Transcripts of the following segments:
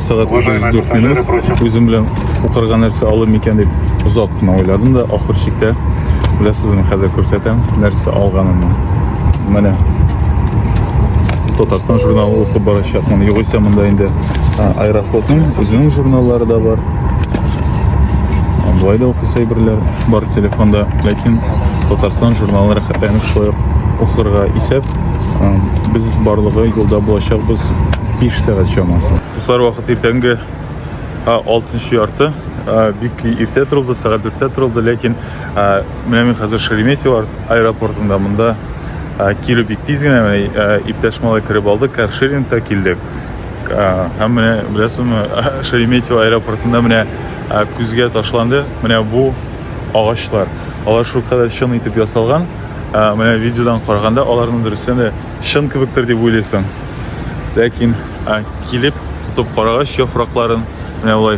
Сәгать 34 минут үзем белән укырга нәрсә алым икән дип озак кына уйладым да, ахыр чиктә беләсезме, хәзер күрсәтәм нәрсә алганымны. Менә Татарстан журналы укып барачакмын. Югыйсә монда инде аэрофлотның үзенең журналлары да бар. Болай да укыса әйберләр бар телефонда, ләкин Татарстан журналын рәхәтләнеп шулай ук укырга исәп Без барлыгы юлда булачакбыз 5 сәгать чамасы. Дуслар, вакыт иртәнге 6 ярты. Бик иртә торылды, сәгать 4-тә торылды, ләкин менә мин хәзер Шереметьево аэропортында монда килү бик тиз генә, менә иптәш малай кереп алды, каршерингта килдек. Һәм менә беләсезме, Шереметьево аэропортында менә күзгә ташланды, менә бу агачлар. Алар шулкадәр чын итеп ясалган, Ә, менә видеодан караганда аларның дөрестән дә чын кебектер дип уйлыйсың. Ләкин ә, килеп тотып карагач яфракларын, менә болай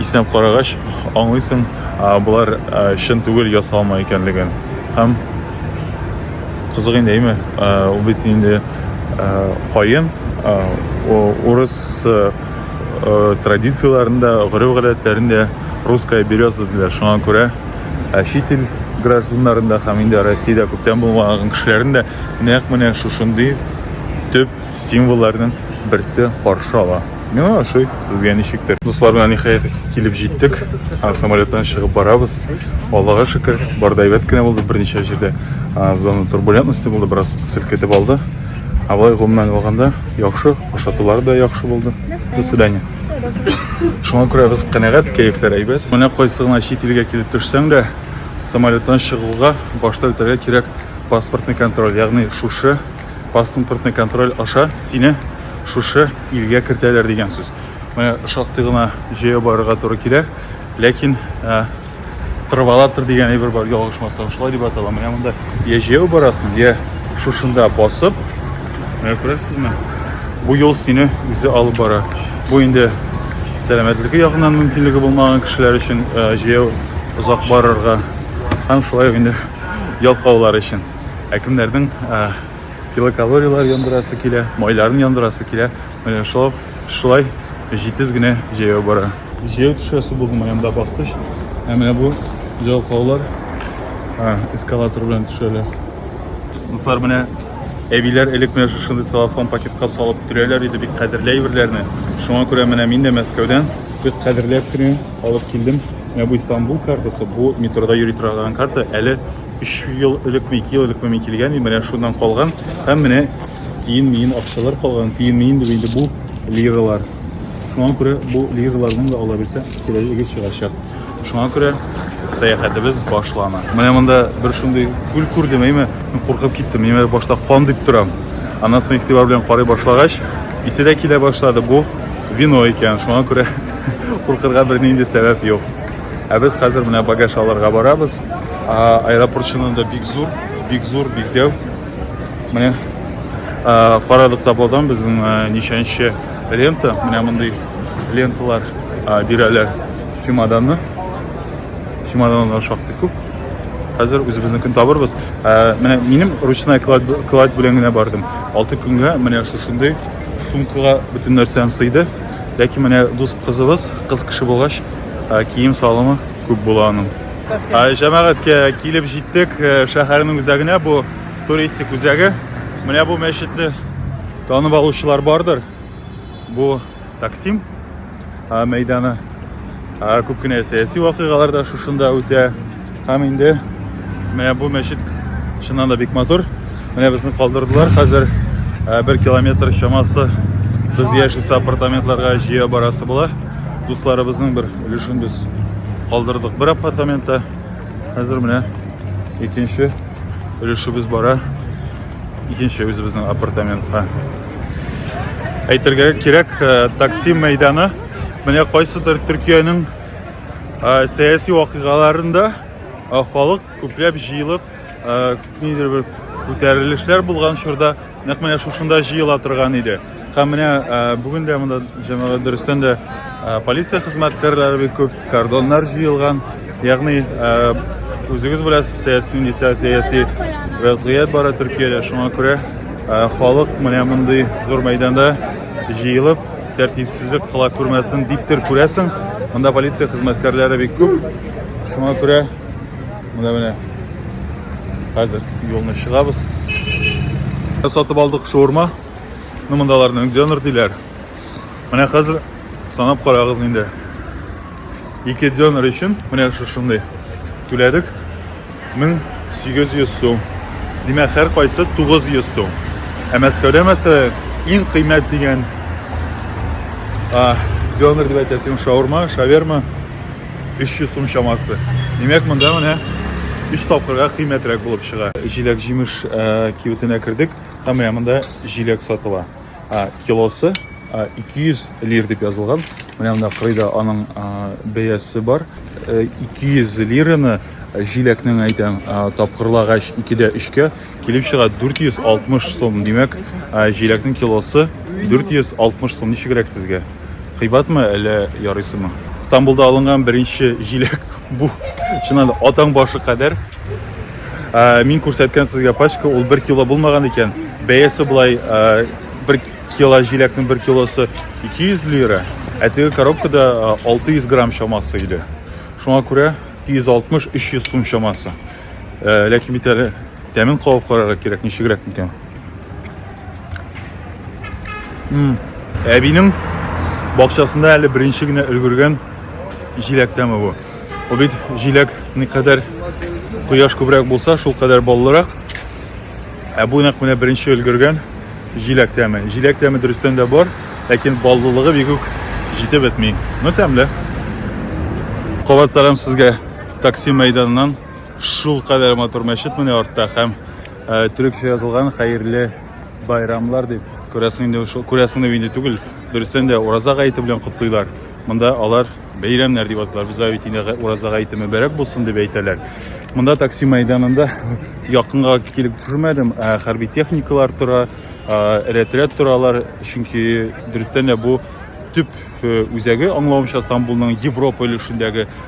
иснәп карагач аңлыйсың, ә, болар ә, чын түгел ясалма икәнлеген. Һәм кызык инде, әйме? Ә, ул бит инде ә, каен, ә, урыс ә, традицияләрендә, гореф-гадәтләрендә русская береза диләр. Шуңа күрә ә чит ил гражданнарын да һәм инде Россиядә күптән булмаган кешеләрен дә нәкъ менә шушындый төп символларның берсе каршы ала. Миңа ошый, сезгә ничектер. Дуслар белән ниһаять килеп җиттек. Самолеттан чыгып барабыз. Аллага шөкер, бар да әйбәт кенә булды. Берничә җирдә зона турбулентности булды, бераз селкетеп алды. Ә болай гомумән алганда яхшы, ашатулар да яхшы булды. До свидания. Шуңа күрә без канәгать, кәефләр әйбәт. Менә кайсы гына чит илгә килеп төшсәң дә, самолеттан чыгуга башта үтәргә кирәк паспортный контроль. Ягъни шушы паспортный контроль аша сине шушы илгә кертәләр дигән сүз. Менә шактый гына җәяү барырга туры килә, ләкин тырвалатор дигән әйбер бар ялгышмасам шулай дип атала менә монда я җәяү барасың я шушында басып менә күрәсезме бу юл сине үзе алып бара бу инде сәламәтлеке ягыннан мөмкинлеге булмаган кешеләр өчен э, җәяү озак барырга һәм шулай инде ялкаулар өчен ә кемнәрнең э, килокалориялар яндырасы килә майларын яндырасы килә Менә шулай, шулай җитез генә җәяү бара. Җәяү төшәсе булдым, аямда бастыч. Ә менә бу җалкаулар эскалатор белән төшәләр. Дуслар, менә әбиләр элек менә шушындый целлофан пакетка салып төрәләр иде бик кадерле әйберләрне. Шуңа күрә менә мин дә Мәскәүдән бик кадерләп кенә алып килдем. Менә бу Истанбул картасы, бу метрода йөри торган карта. Әле 3 ел элекме, 2 ел элекме мин килгән идем, менә шуннан калган. Һәм менә тиен-миен акчалар калган, тиен-миен дип инде бу лиралар. Шуңа күрә бу лираларның да ала бирсә киләчәге чыгачак. Шуңа күрә сәяхәтебез башлана. Менә монда бер шундый күл күрдем, әйме, куркып киттем. Мин башта кан дип торам. Аннан соң игътибар белән карый башлагач, исе дә килә башлады. Бу вино икән. Шуңа күрә куркырга бернинди сәбәп юк. Ә без хәзер менә багаж алырга барабыз. Аэропорт чынында бик зур, бик зур, бик дәү. Менә карадык та болдан безнең ничәнче лента. Менә мондый ленталар бирәләр чемоданны. Чемоданнар шактый күп. Хәзер үзебезнекен табырбыз. Менә минем ручной кладь белән генә бардым. 6 көнгә менә шушындый сумкага бөтен нәрсәм сыйды. Ләкин менә дус кызыбыз, кыз кеше булгач, кием салымы күп була аның. Ә җәмәгатькә килеп җиттек, э, шәһәрнең үзәгенә бу туристик үзәге. Менә бу мәчетне танып алучылар бардыр. Бу Таксим э, мәйданы. Ә күп кенә сәяси вакыйгалар да шушында үтә. Һәм инде менә бу мәчет чыннан да бик матур. Менә безне калдырдылар хәзер э, бер километр чамасы без яшисе апартаментларга җыя барасы була. Дусларыбызның бер өлешен без калдырдык бер апартаментта. Хәзер менә икенче өлешебез бара. Икенче үзебезнең апартаментка. Әйтергә кирәк, э, такси мәйданы менә кайсыдыр Төркиянең э, сәяси вакыйгаларында э, халык күпләп җыелып, нидер бер күтәрелешләр булган чорда Нәкъ менә шушында җыела торган иде. Һәм менә бүген дә монда җәмәгать дөрестән дә полиция хезмәткәрләре бик күп, кордоннар җыелган. Ягъни үзегез беләсез, сәяси нинди сәяси вәзгыять бара Төркиядә. Шуңа күрә халык менә мондый зур мәйданда җыелып, тәртипсезлек кыла күрмәсен диптер күрәсең. Монда полиция хезмәткәрләре бик күп. Шуңа күрә Менә менә. Хәзер юлны чыгабыз. Сатып алдык шаурма. Ну мондаларны дёнер диләр. Менә хәзер санап карагыз инде. Ике дёнер өчен менә шушындый түләдек 1800 сум. Димәк, һәр кайсы 900 сум. Ә Мәскәүдә мәсәлән иң кыйммәт дигән дёнер дип әйтәсең шаурма, шаверма 300 сум чамасы. Димәк, монда менә 3 тапкырга кыйммәтрәк булып чыга. Җиләк-җимеш э, кибетенә кердек һәм менә монда җиләк сатыла. Килосы 200 э, лир дип язылган. Менә монда кырыйда аның э, бәясе бар. 200 лираны җиләкнең әйтәм тапкырлагач 2 дә 3 кә Килеп чыга 460 сум, димәк, җиләкнең килосы 460 сум. Ничегрәк сезгә? Кыйбатмы әллә ярыйсымы? Стамбулда алынган беренче җиләк бу. Чыннан да атаң башы кадәр. Ә, мин күрсәткән сезгә пачка, ул 1 кило булмаган икән. Бәясе булай 1 кило җиләкнең 1 килосы 200 лира, ә теге коробкада 600 грамм чамасы иде. Шуңа күрә 260-300 сум чамасы. Ә, ләкин бит әле тәмен кабып карарга кирәк, ничегрәк микән. Әбинең бакчасында әле беренче генә өлгергән җиләк тәме бу. Ул бит җиләк никадәр кояш күбрәк булса, шул кадәр баллырак. Ә бу нәкъ менә беренче өлгергән җиләк тәме. Җиләк тәме дөрестән дә бар, ләкин баллылыгы бигүк җитеп бетми. Ну тәмле. Кабат сәлам сезгә. Таксим мәйданыннан шул кадәр матур мәчет менә артта һәм э, төрекчә язылган хәерле байрамлар дип күрәсең инде шул күрәсең инде түгел дөрестән дә ураза гаете белән котлыйлар монда алар бәйрәмнәр дип аталар бездә бит инде ураза гаете мөбәрәк булсын дип әйтәләр монда такси мәйданында якынга килеп төшермәдем ә хәрби техникалар тора рәт-рәт торалар чөнки дөрестән дә бу төп э, үзәге аңлавымча стамбулның европа өлешендәге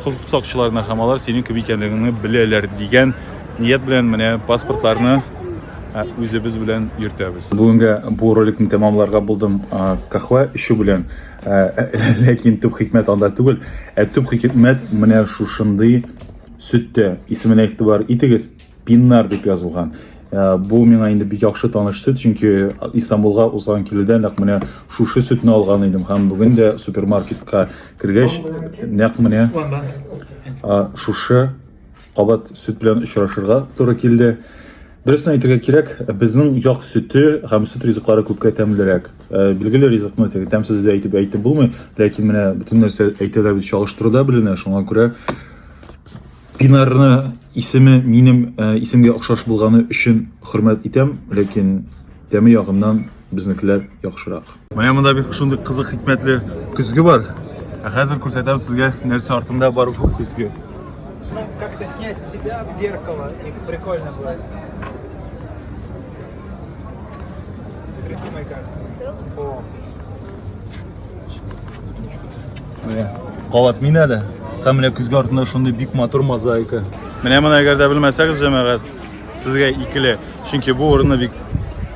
Хокук сакчыларына һәм алар синең кем икәнлегеңне беләләр дигән ният белән менә паспортларны ә, үзебез белән йөртәбез. Бүгенгә бу роликны тәмамларга булдым а, кахва эчү белән. Ә, ә, Ләкин төп хикмәт анда түгел, ә төп хикмәт менә шушындый сөттә. Исеменә игътибар итегез. Пиннар дип язылган. Э, бу миңа инде бик яхшы таныш сөт, чөнки Истанбулга узган килүдә нәкъ менә шушы сөтне алган идем һәм бүген дә супермаркетка кергәч нәкъ менә э, шушы кабат сөт белән очрашырга туры килде. Дөресен әйтергә кирәк, безнең як сөте һәм сөт ризыклары күпкә тәмлерәк. Э, билгеле ризыкны теге тәмсез дә әйтеп әйтеп булмый, ләкин менә бөтен нәрсә әйтәләр бит чагыштыруда беленә, шуңа күрә Инарны исеме минем э, исемгә охшаш булганы өчен хөрмәт итәм, ләкин тәме ягыннан безнекеләр яхшырак. Менә монда бик шундый кызык хикмәтле көзге бар. Ә хәзер күрсәтәм сезгә нәрсә артында бар бу көзге. Ну, как-то снять себя в зеркало, и прикольно будет. Смотрите, моя карта. Менә кабат мин әле. Һәм менә көзге артында шундый бик матур мозаика. Менә моны әгәр дә белмәсәгез, җәмәгать, сезгә икеле. Чөнки бу урынны бик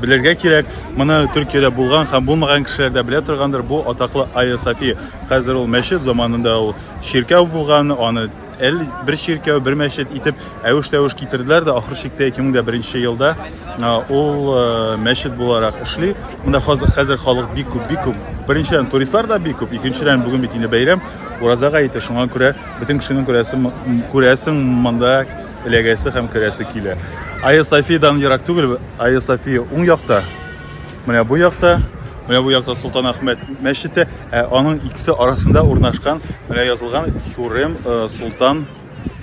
белергә кирәк. Моны Төркиядә булган һәм булмаган кешеләр дә белә торгандыр. Бу атаклы Айя София. Хәзер ул мәчет заманында ул чиркәү булган, аны Әле бер чиркәү, бер мәчет итеп әвеш-тәвеш китерделәр дә, ахыр чиктә 2001 елда ул мәчет буларак эшли. Монда хәзер халык бик күп, бик күп. Беренчедән, туристлар да бик күп. Икенчедән, бүген бит инде бәйрәм, уразага ите, шуңа күрә бөтен кешенең күрәсе, күрәсең монда эләгәсе һәм керәсе килә. Айя Софиядән ерак түгел, Айя София уң якта. Менә бу якта, менә бу якта Солтан Ахмед мәчете, ә аның икесе арасында урнашкан, менә язылган Хюрем э, Солтан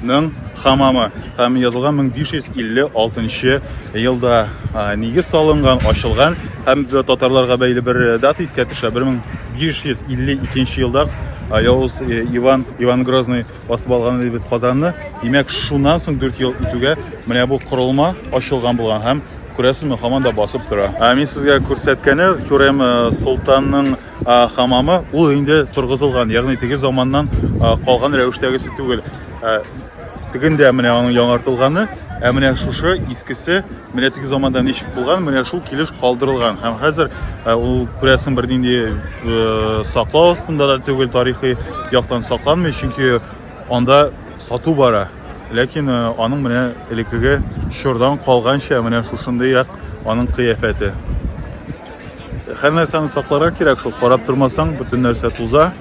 ның хамамы һәм язылган 1556 елда нигез салынган, ачылган һәм татарларга бәйле бер э, дата искә төшә. 1552 елда Явыз э, Иван Иван Грозный басып алган иде бит Казанны. Димәк, шуннан соң 4 ел үтүгә менә бу корылма ачылган булган һәм күрәсезме, һаман да басып тора. Ә мин сезгә күрсәткәне Хюрем э, солтанның э, хамамы, ул инде торгызылган, ягъни теге заманнан э, калган рәвештәгесе түгел. Тегендә менә аның яңартылганы, ә менә шушы искесе Менә теге заманда ничек булган, менә шул килеш калдырылган. Һәм хәзер э, ул күрәсен бер нинди э, саклау астында да түгел, тарихи яктан сакланмый, чөнки анда сату бара. Ләкин э, аның менә элеккеге чордан калганча менә шушындый як аның кыяфәте. Һәр нәрсәне сакларга кирәк шул, карап тормасаң, бөтен нәрсә туза.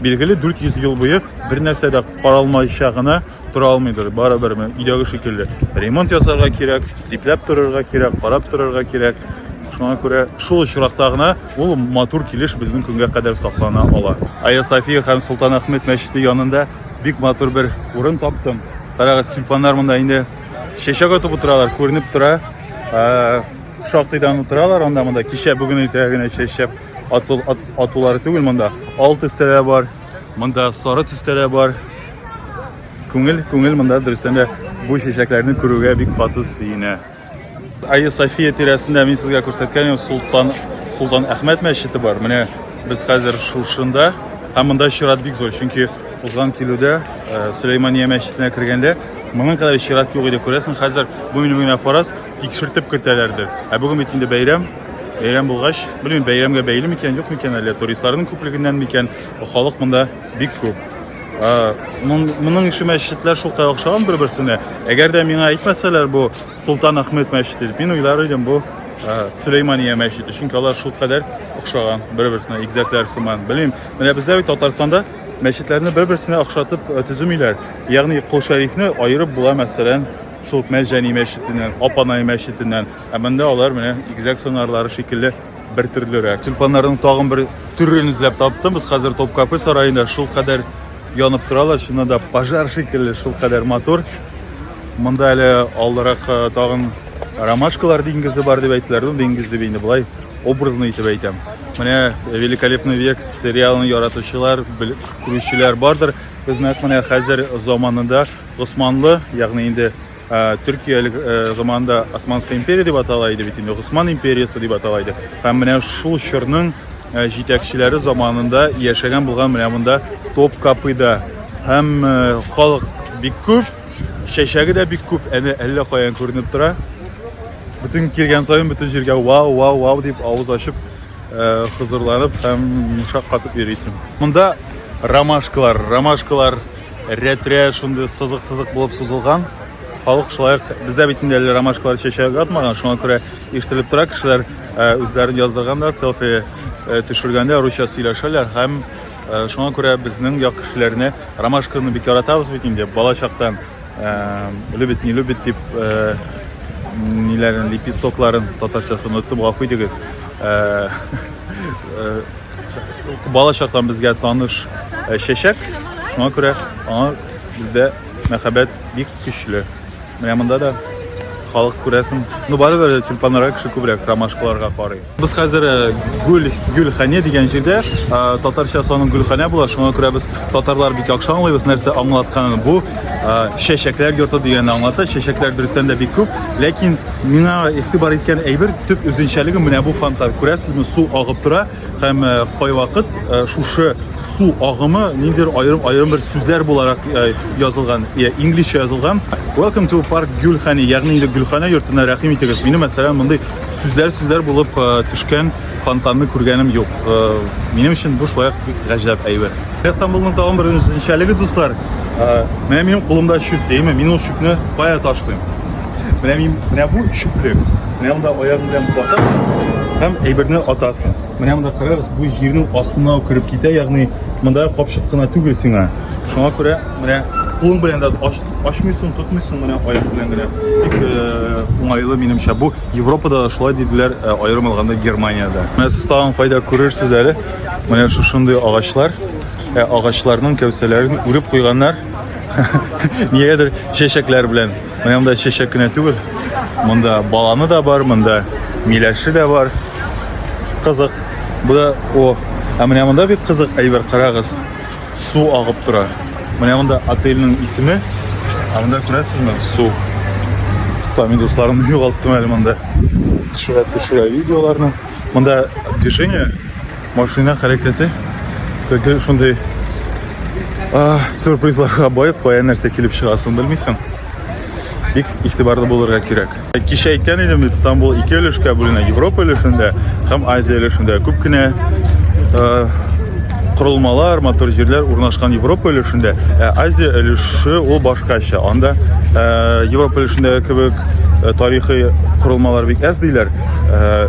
Билгеле 400 ел буе бер нәрсә дә каралмайча гына тора алмыйдыр, барыбер өйдәге шикелле. Ремонт ясарга кирәк, сипләп торырга кирәк, карап торырга кирәк. Шуңа күрә шул очракта гына ул матур килеш безнең көнгә кадәр саклана ала. Айя София һәм Солтан Ахмед мәчете янында бик матур бер урын таптым. Карагыз, тюльпаннар монда инде чәчәк атып утыралар, күренеп тора. Ә, шактыйдан утыралар анда монда. Кичә бүген иртә генә чәчәк ату, атулары түгел монда. Алты стелә бар. Монда сары төстә дә бар. Күңел, күңел монда дөрестән дә бу чәчәкләрне күрүгә бик каты сөенә. Айя София тирәсендә мин сезгә күрсәткәнем Султан Султан Әхмәт мәчете бар. Менә без хәзер шушында. Һәм монда чират бик зур, чөнки узган килүдә э, Сөләймания мәчетенә кергәндә моның кадәр чират юк иде. Күрәсең, хәзер бу минем генә фараз, Тикшертеп кертәләрдер. Ә бүген бит инде бәйрәм. Бәйрәм булгач, белмим, бәйрәмгә бәйле микән, юк микән әле, туристларның күплегеннән микән, халык монда бик күп. Моның ише мәчетләр шулкай охшаган бер-берсенә. Әгәр дә миңа әйтмәсәләр, бу Султан Ахмед мәчете дип, мин уйлар идем, бу Сөләймания мәчете, чөнки алар шул кадәр охшаган бер-берсенә, игезәкләр сыман. Белмим, менә бездә бит Татарстанда мәчетләрне бер-берсенә охшатып төземиләр. Ягъни Кол Шәрифне аерып була, мәсәлән, Шул Мәлҗәни мәчетеннән, Апанай мәчетеннән. Ә монда алар менә игезәк сыңарлары шикелле бер төрлерәк. Тюльпаннарның тагын бер төрен эзләп таптым. Без хәзер Топкапы сараенда шул кадәр янып торалар, чыннан да пожар шикелле, шул кадәр матур. Монда әле алдарак э, тагын ромашкалар диңгезе бар дип әйттеләр. Ну, диңгез дип инде болай образный итеп әйтәм. Менә э, Великолепный век сериалын яратучылар, күрүчеләр бардыр. Без нәкъ менә хәзер заманында Госманлы, ягъни инде Төркия элек заманында Османская империя дип атала иде бит инде, Госман империясы дип атала иде. Һәм менә шул чорның җитәкчеләре заманында яшәгән булган менә монда Топкапыда. Һәм халык бик күп, чәчәге дә бик күп, әнә әллә каян күренеп тора. Бөтен килгән саен бөтен җиргә вау, вау, вау дип авыз ачып хозурланып һәм шаккатып йөрисең. Монда ромашкалар, ромашкалар Рәтрә шундый сызык-сызык булып сузылган. Халык шулай бездә бит инде әле ромашкалар чәчәк атмаган, шуңа күрә ишетелеп тора кешеләр э, үзләрен яздырганда, селфи э, төшергәндә русча сөйләшәләр һәм э, шуңа күрә безнең як кешеләренә ромашканы бик яратабыз бит инде бала чактан любит не любит дип ниләрен лепестокларын татарчасын оттым гафу итегез Бала чактан безгә таныш э, чәчәк. Шуңа күрә аңа бездә мәхәббәт бик көчле. Менә монда да халык күрәсең. Ну барыбер тюльпаннарга кеше күбрәк ромашкаларга карый. Без хәзер э, гүл гөлхәне дигән җирдә э, татарча санын гөлхәнә була. Шуңа күрә без татарлар бик яхшы аңлыйбыз нәрсә аңлатканын. Бу э, чәчәкләр йорты дигәнне аңлата. Чәчәкләр дөрестән дә бик күп, ләкин Миңа игътибар иткән әйбер төп үзенчәлеге менә бу фонтан. Күрәсезме, су агып тора һәм э, кайвакыт э, шушы су агымы ниндидер аерым аерым бер сүзләр буларак э, язылган, я инглизчә язылган. Welcome to Park Гөлхани, ягъни инде Гөлхана йортына рәхим итегез. Мине мәсәлән мондый сүзләр сүзләр булып төшкән Фонтанны күргәнем юк. Э, минем өчен бу шулай бик гаҗәп әйбер. Истанбулның тагын бер үзенчәлеге, дуслар. Э, менә минем кулымда чүп, дәйме? Мин ул чүпне кая ташлыйм? Менә мин, менә бу чүплек. Менә монда аягым белән басасың һәм әйберне атасың. Менә монда карагыз, бу җирнең астына кереп китә, ягъни монда капчык кына түгел сиңа. Шуңа күрә менә кулың белән дә ачмыйсың, тотмыйсың менә аяк белән генә. Тик э, уңайлы минемчә бу. Европада да шулай диделәр, ә аерым алганда Германиядә. Менә сез тагын кайда күрерсез әле. Менә шушындый агачлар, ә агачларның кәүсәләрен үреп куйганнар. Нигәдер чәчәкләр белән. Менә монда чәчәк кенә түгел. Монда баланы да бар, монда миләше дә бар. Кызык. Бу да о, ә менә монда бик кызык әйбер карагыз. Су агып тора. Менә монда отельнең исеме. Ә монда күрәсезме? Су. Та мин дусларымны югалттым әле монда. Төшерә төшерә видеоларны. Монда движение, машина хәрәкәте. Теге шундый сюрпризларга бай, кая нәрсә килеп чыгасын белмисең. Бик игътибарлы булырга кирәк. Кичә әйткән идем бит, Стамбул ике өлешкә бүленә, Европа өлешендә һәм Азия өлешендә. Күп кенә э, корылмалар, матур җирләр урнашкан Европа өлешендә, ә Азия өлеше ул башкача. Анда э, Европа өлешендә кебек э, тарихи корылмалар бик әз диләр. Э,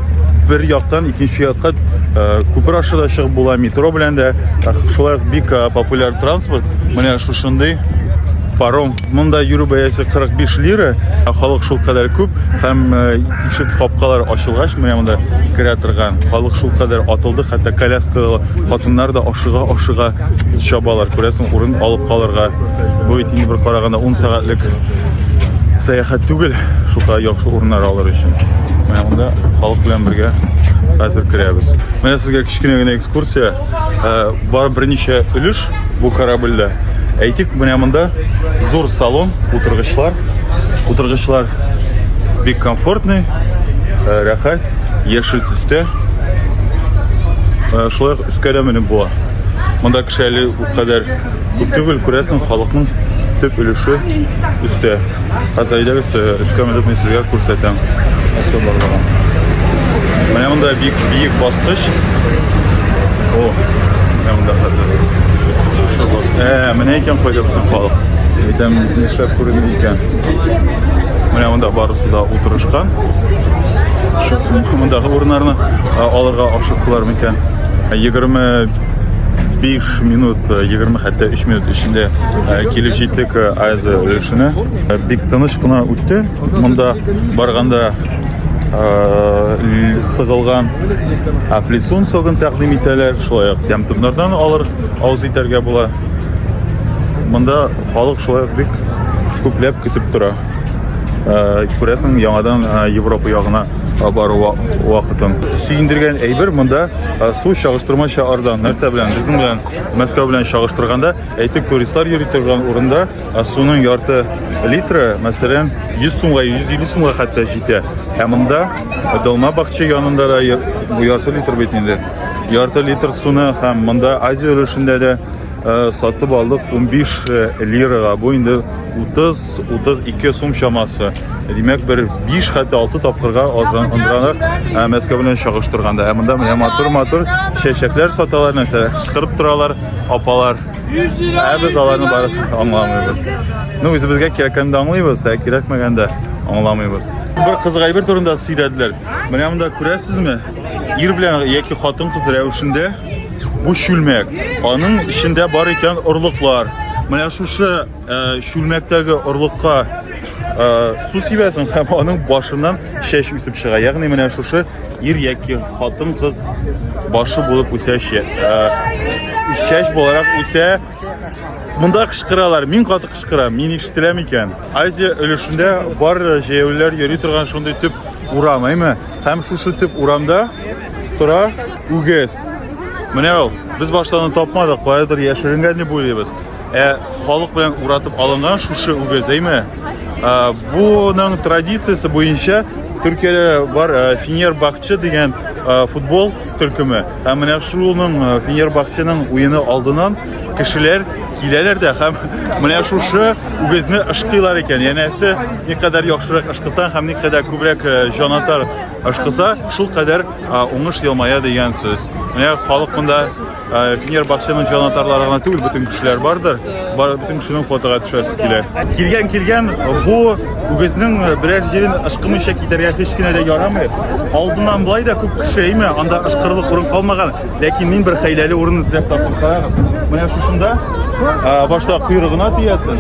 бер яктан икенче якка э, күпер аша да чыгып була, метро белән дә. Шулай бик э, популяр транспорт. Менә шушындый паром Монда йөрү бәясе 45 лира, ә халык шул кадәр күп һәм э, ишек капкалар ачылгач, менә монда керә торган халык шул кадәр атылды, хәтта коляскалы хатыннар да ашыга-ашыга чабалар. Күрәсең, урын алып калырга. Бу бит инде бер караганда 10 сәгатьлек сәяхәт түгел, шука яхшы урыннар алыр өчен. Менә монда халык белән бергә хәзер керәбез. Менә сезгә кечкенә генә экскурсия. Э, бар берничә өлеш Бу корабльдә. Әйтик, менә монда зур салон, утыргычлар. Утыргычлар бик комфортный, э, рәхәт, яшел төстә. Э, шулай ук өскә дә менеп була. Монда кеше әле күп түгел, күрәсең, халыкның төп өлеше өстә. Хәзер әйдәгез өскә менеп мин сезгә күрсәтәм. Нәрсә барлыгын. Менә монда бик биек баскыч. О, менә монда хәзер. Шушы бас. Ә, менә икән кайда бөтен халык. Әйтәм, нишләп күренми икән. Менә монда барысы да утырышкан. Шу мондагы урыннарны алырга ашыктылар микән? 25 минут 20 э, хәтта 3 минут эчендә э, килеп җиттек э, Азия өлешенә. Бик тыныч кына үтте. Монда барганда сыгылган афлисун согын тәкъдим итәләр. Шулай ук тәмтүмнәрдән алыр авыз итәргә була. Монда халык шулай ук бик күпләп көтеп тора. Э, күрәсең яңадан э, европа ягына бару вакытын сөендергән әйбер монда Ә су чагыштырмача арзан. Нәрсә белән? Безнең белән Мәскәү белән чагыштырганда, әйтик, туристлар йөри торган урында ә суның ярты литры, мәсәлән, 100 сумга, 150 сумга хәтта җитә. Ә монда Долма бакча янында да бу ярты литр бит инде. Ярты литр суны һәм монда Азия өлешендә дә сатып алдык 15 лирага. Бу инде 30 32 сум чамасы. Димәк, бер 5 хәтта 6 тапкырга азран андранак Мәскәү белән чагыштырганда. Ә монда менә матур-матур чәчәкләр саталар, нәрсә кычкырып торалар апалар. Ә без аларны барып аңламыйбыз. Ну, үзебезгә кирәккәндә аңлыйбыз, ә кирәкмәгәндә аңламыйбыз. Бер кызык әйбер турында сөйләделәр. Менә монда күрәсезме? Ир белән яки хатын-кыз рәвешендә бу чүлмәк. Аның эчендә бар икән орлыклар. Менә шушы Чүлмәктәге орлыкка су сибәсең һәм аның башыннан чәч үсеп чыга. Ягъни менә шушы ир яки хатын-кыз башы булып үсә чәч буларак үсә. Монда кычкыралар, мин каты кычкырам, мин ишетеләм икән. Азия өлешендә бар җәяүлеләр йөри торган шундый төп урам, әйме? Һәм шушы төп урамда тора үгез. Менә ул. Без баштан тапмадык, каядыр яшеренгән дип уйлыйбыз. Ә халык белән уратып алынган шушы үгез, әйме? Буның традициясе буенча Төркиядә бар Фенербахче дигән футбол төркеме. Һәм менә шуның Фенербахченың уены алдынан кешеләр киләләр дә һәм менә шушы үгезне ышкыйлар икән. Янәсе, никадәр яхшырак ышкыса һәм никадәр күбрәк җанатар ышкыса, шул кадәр уңыш елмая дигән сүз. Менә халык монда Финер Бакчаның җанатарлары гына түгел, бөтен кешеләр бардыр. Бар бөтен кешенең фотога төшәсе килә. Килгән килгән бу үгезнең берәр җирен ышкымыйча китәргә һич кенә дә ярамый. Алдыннан болай да күп кеше име, анда ышкырлык урын калмаган. Ләкин мин бер хәйләле урын эзләп таптым. Карагыз. Менә шушында башта койрыгына тиясен.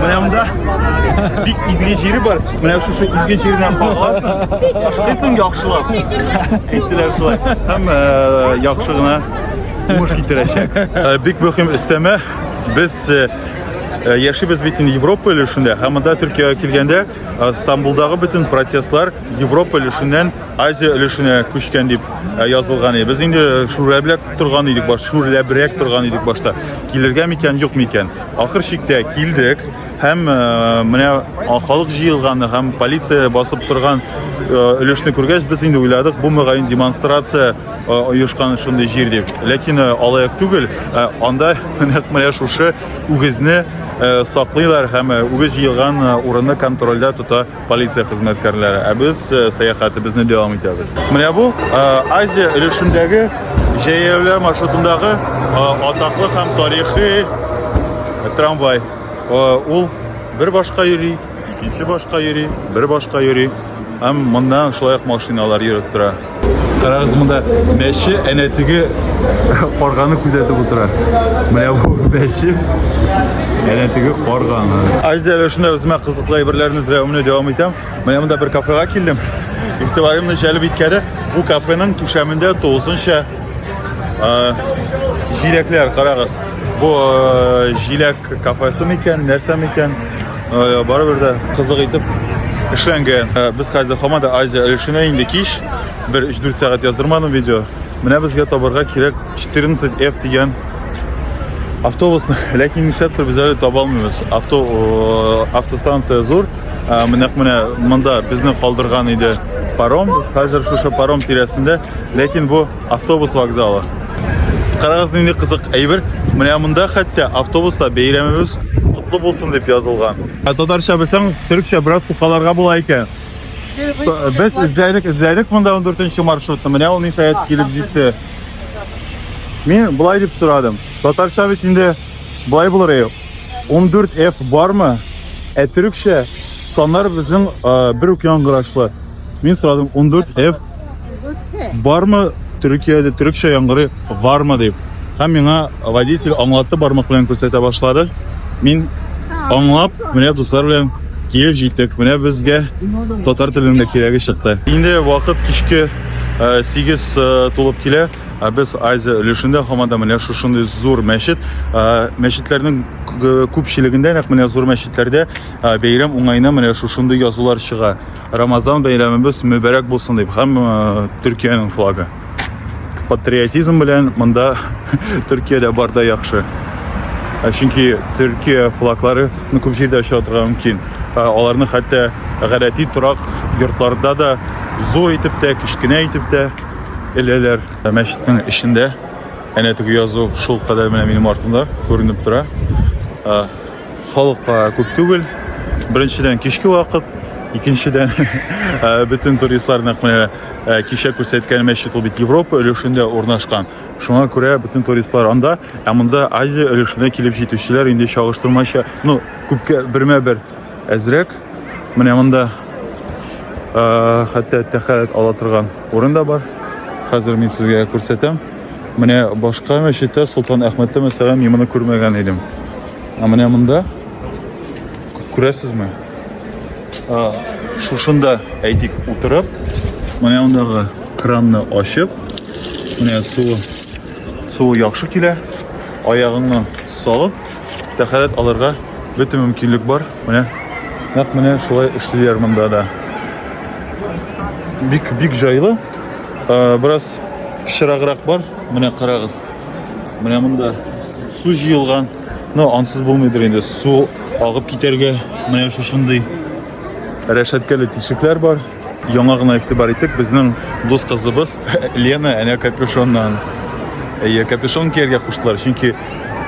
Менә монда бик изге җире бар. Менә шушы изге җирдән кагыласың, ашкыйсың яхшылап. Әйттеләр шулай. Һәм э, яхшы гына уңыш китерәчәк. Э, бик мөһим өстәмә. Без э, Э, яшибез бит инде европа өлешендә һәм монда төркиягә килгәндә э, стамбулдагы бөтен процесслар европа өлешеннән азия өлешенә күчкән дип э, язылган иде без инде шүрләбләк торган идек баш шүрләбрәк торган идек башта килергә микән юк микән ахыр чиктә килдек Һәм э, менә халык җыелганы һәм полиция басып торган э, өлешне күргәч, без инде уйладык, бу мөгаен демонстрация э, оешкан шундый җир дип. Ләкин алаяк түгел, анда нәкъ менә шушы үгезне саклыйлар һәм үгез җыелган урынны контрольдә тота полиция хезмәткәрләре. Ә без сәяхәтебезне дәвам итәбез. Менә бу Азия өлешендәге җәяүле маршрутындагы атаклы һәм тарихи трамвай. Ул бер башка йөри, икенче башка йөри, бер башка йөри. Һәм монда шулай ук машиналар йөреп тора. Карагыз монда мәче әнә теге карганы күзәтеп утыра. Менә бу мәче әнә теге карганы. Азия әле шунда үземә кызыклы әйберләрне эзләвемне дәвам итәм. Менә монда бер кафега килдем. Игътибарымны җәлеп иткәне бу кафеның түшәмендә тулысынча җиләкләр карагыз бу җиләк кафесы микән нәрсә микән барыбер дә кызык итеп эшләнгән без хәзер һаман да азия өлешенә инде кич бер өч дүрт сәгать яздырмадым видео менә безгә табарга кирәк 14 f дигән автобусны ләкин нишләптер без әле таба алмыйбыз авто автостанция зур Менәк менә монда безне калдырган иде паром. Без хәзер шушы паром тирәсендә, ләкин бу автобус вокзалы. Карагыз нинди кызык әйбер. Менә монда хәтта автобуста бәйрәмебез котлы булсын дип язылган. Ә татарча белсәң, төркчә бераз сукаларга була икән. Без эзләдек, эзләдек монда 14 маршрутны. Менә ул ниһаять килеп җитте. Мин болай дип сорадым. Татарча бит инде болай булыр. 14F бармы? Ә төрекчә саннар безнең бер үк яңгырашлы. Мин сорадым 14F бармы Төркиядә төрекчә яңгыры бармы дип. Һәм миңа водитель аңлатты бармак белән күрсәтә башлады. Мин аңлап, менә дуслар белән килеп җиттек. Менә безгә татар телендә кирәге чыкты. Инде вакыт кичке 8 тулып килә. Ә без Азия өлешендә һаман да менә шушындый зур мәчет, мәчетләрнең күпчелегендә нәкъ менә зур мәчетләрдә бәйрәм уңаена менә шушындый язулар чыга. Рамазан бәйрәмебез мөбәрәк булсын дип һәм Төркиянең флагы. Патриотизм белән монда Төркиядә бар да яхшы. Ә чөнки Төркия флаглары ну, күп җирдә оча торырга мөмкин. Аларны хәтта гадәти торак йортларда да зур итеп тә, кечкенә итеп тә эләләр. Ә мәчетнең эчендә әнә теге язу шул кадәр менә минем артымда күренеп тора. Халыкка күп түгел. Беренчедән кичке вакыт, икенчедән бөтен туристлар нәкъ менә кичә күрсәткән мәчет ул бит Европа өлешендә урнашкан. Шуңа күрә бөтен туристлар анда, ә монда Азия өлешенә килеп җитүчеләр инде чагыштырмача, ну, күпкә бермә-бер әзрәк. Менә монда хәтта тәхәрәт ала торган Урын да бар. Хәзер мин сезгә күрсәтәм. Менә башка мәчеттә Солтан Әхмәттә мәсәлән мин моны күрмәгән идем. Ә менә монда күрәсезме? Шушында әйтик утырып, менә мондагы кранны ачып, менә су су яхшы килә. Аягыңны салып, Тәхәрәт алырга бөтен мөмкинлек бар. Менә нәкъ менә шулай эшлиләр монда да. Бик бик җайлы. Э, бераз пычраграк бар. Менә карагыз. Менә монда су җыелган. Но ансыз булмыйдыр инде. Су агып китәргә менә шушындый рәшәткәле тишекләр бар. Яңа гына игътибар иттек, безнең дус кызыбыз Лена әнә капюшоннан. Әйе, капюшон кияргә куштылар, чөнки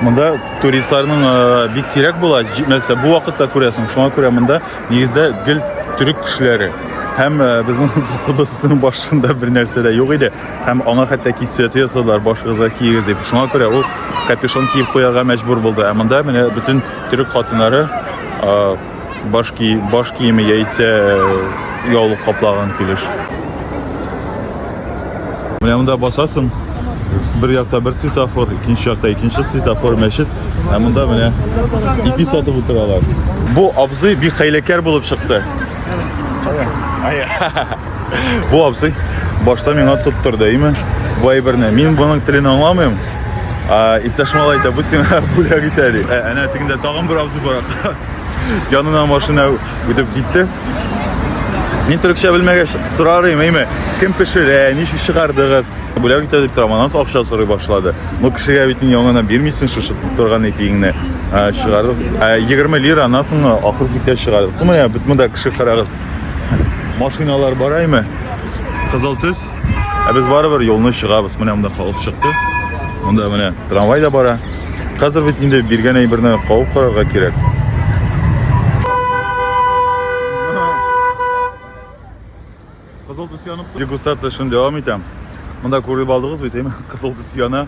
монда туристларның э, бик сирәк була, җитмәсә бу вакытта күрәсең. Шуңа күрә монда нигездә гел төрек кешеләре. Һәм э, безнең дустыбызның башында бер нәрсә дә юк иде. Һәм аңа хәтта кисәт ясадылар, башыгызга киегез дип. Шуңа күрә ул капюшон киеп куярга мәҗбүр булды. Ә монда менә бөтен төрек хатыннары э, баш, ки, баш киеме яисә э, яулык каплаган килеш. Менә монда басасың, бер якта бер светофор, икенче якта икенче светофор, мәчет, ә монда менә ипи сатып утыралар. Бу абзый бик хәйләкәр булып чыкты. Ая. Бу абзый башта миңа тоттыр да име? Бу әйберне. Мин буның телен аңламыйм. А иптәш малай әйтә, бу сиңа бүләк итә ди. Ә, әнә тегендә тагын бер абзый бар. Янына машина үтеп китте. Мин төрекчә белмәгәч сорарым, әйме, кем пешерә, ничек чыгардыгыз? Бүләк итә дип торам, аннан акча сорый башлады. Ну кешегә бит инде яңадан бирмисең шушы торган ипиңне. Чыгардык. 20 лира анасыңны ахыр сиккә чыгардык. Ну менә бит монда кеше карагыз. Машиналар бараймы? Кызыл төс. Ә без барыбер юлны чыгабыз. Менә монда халык чыкты. Монда менә трамвай да бара. Хәзер бит инде биргән әйберне кабып карарга кирәк. Кызыл төс янып. Дегустация шуны дәвам итәм. Монда күреп алдыгыз бит, әйме? Кызыл төс яна.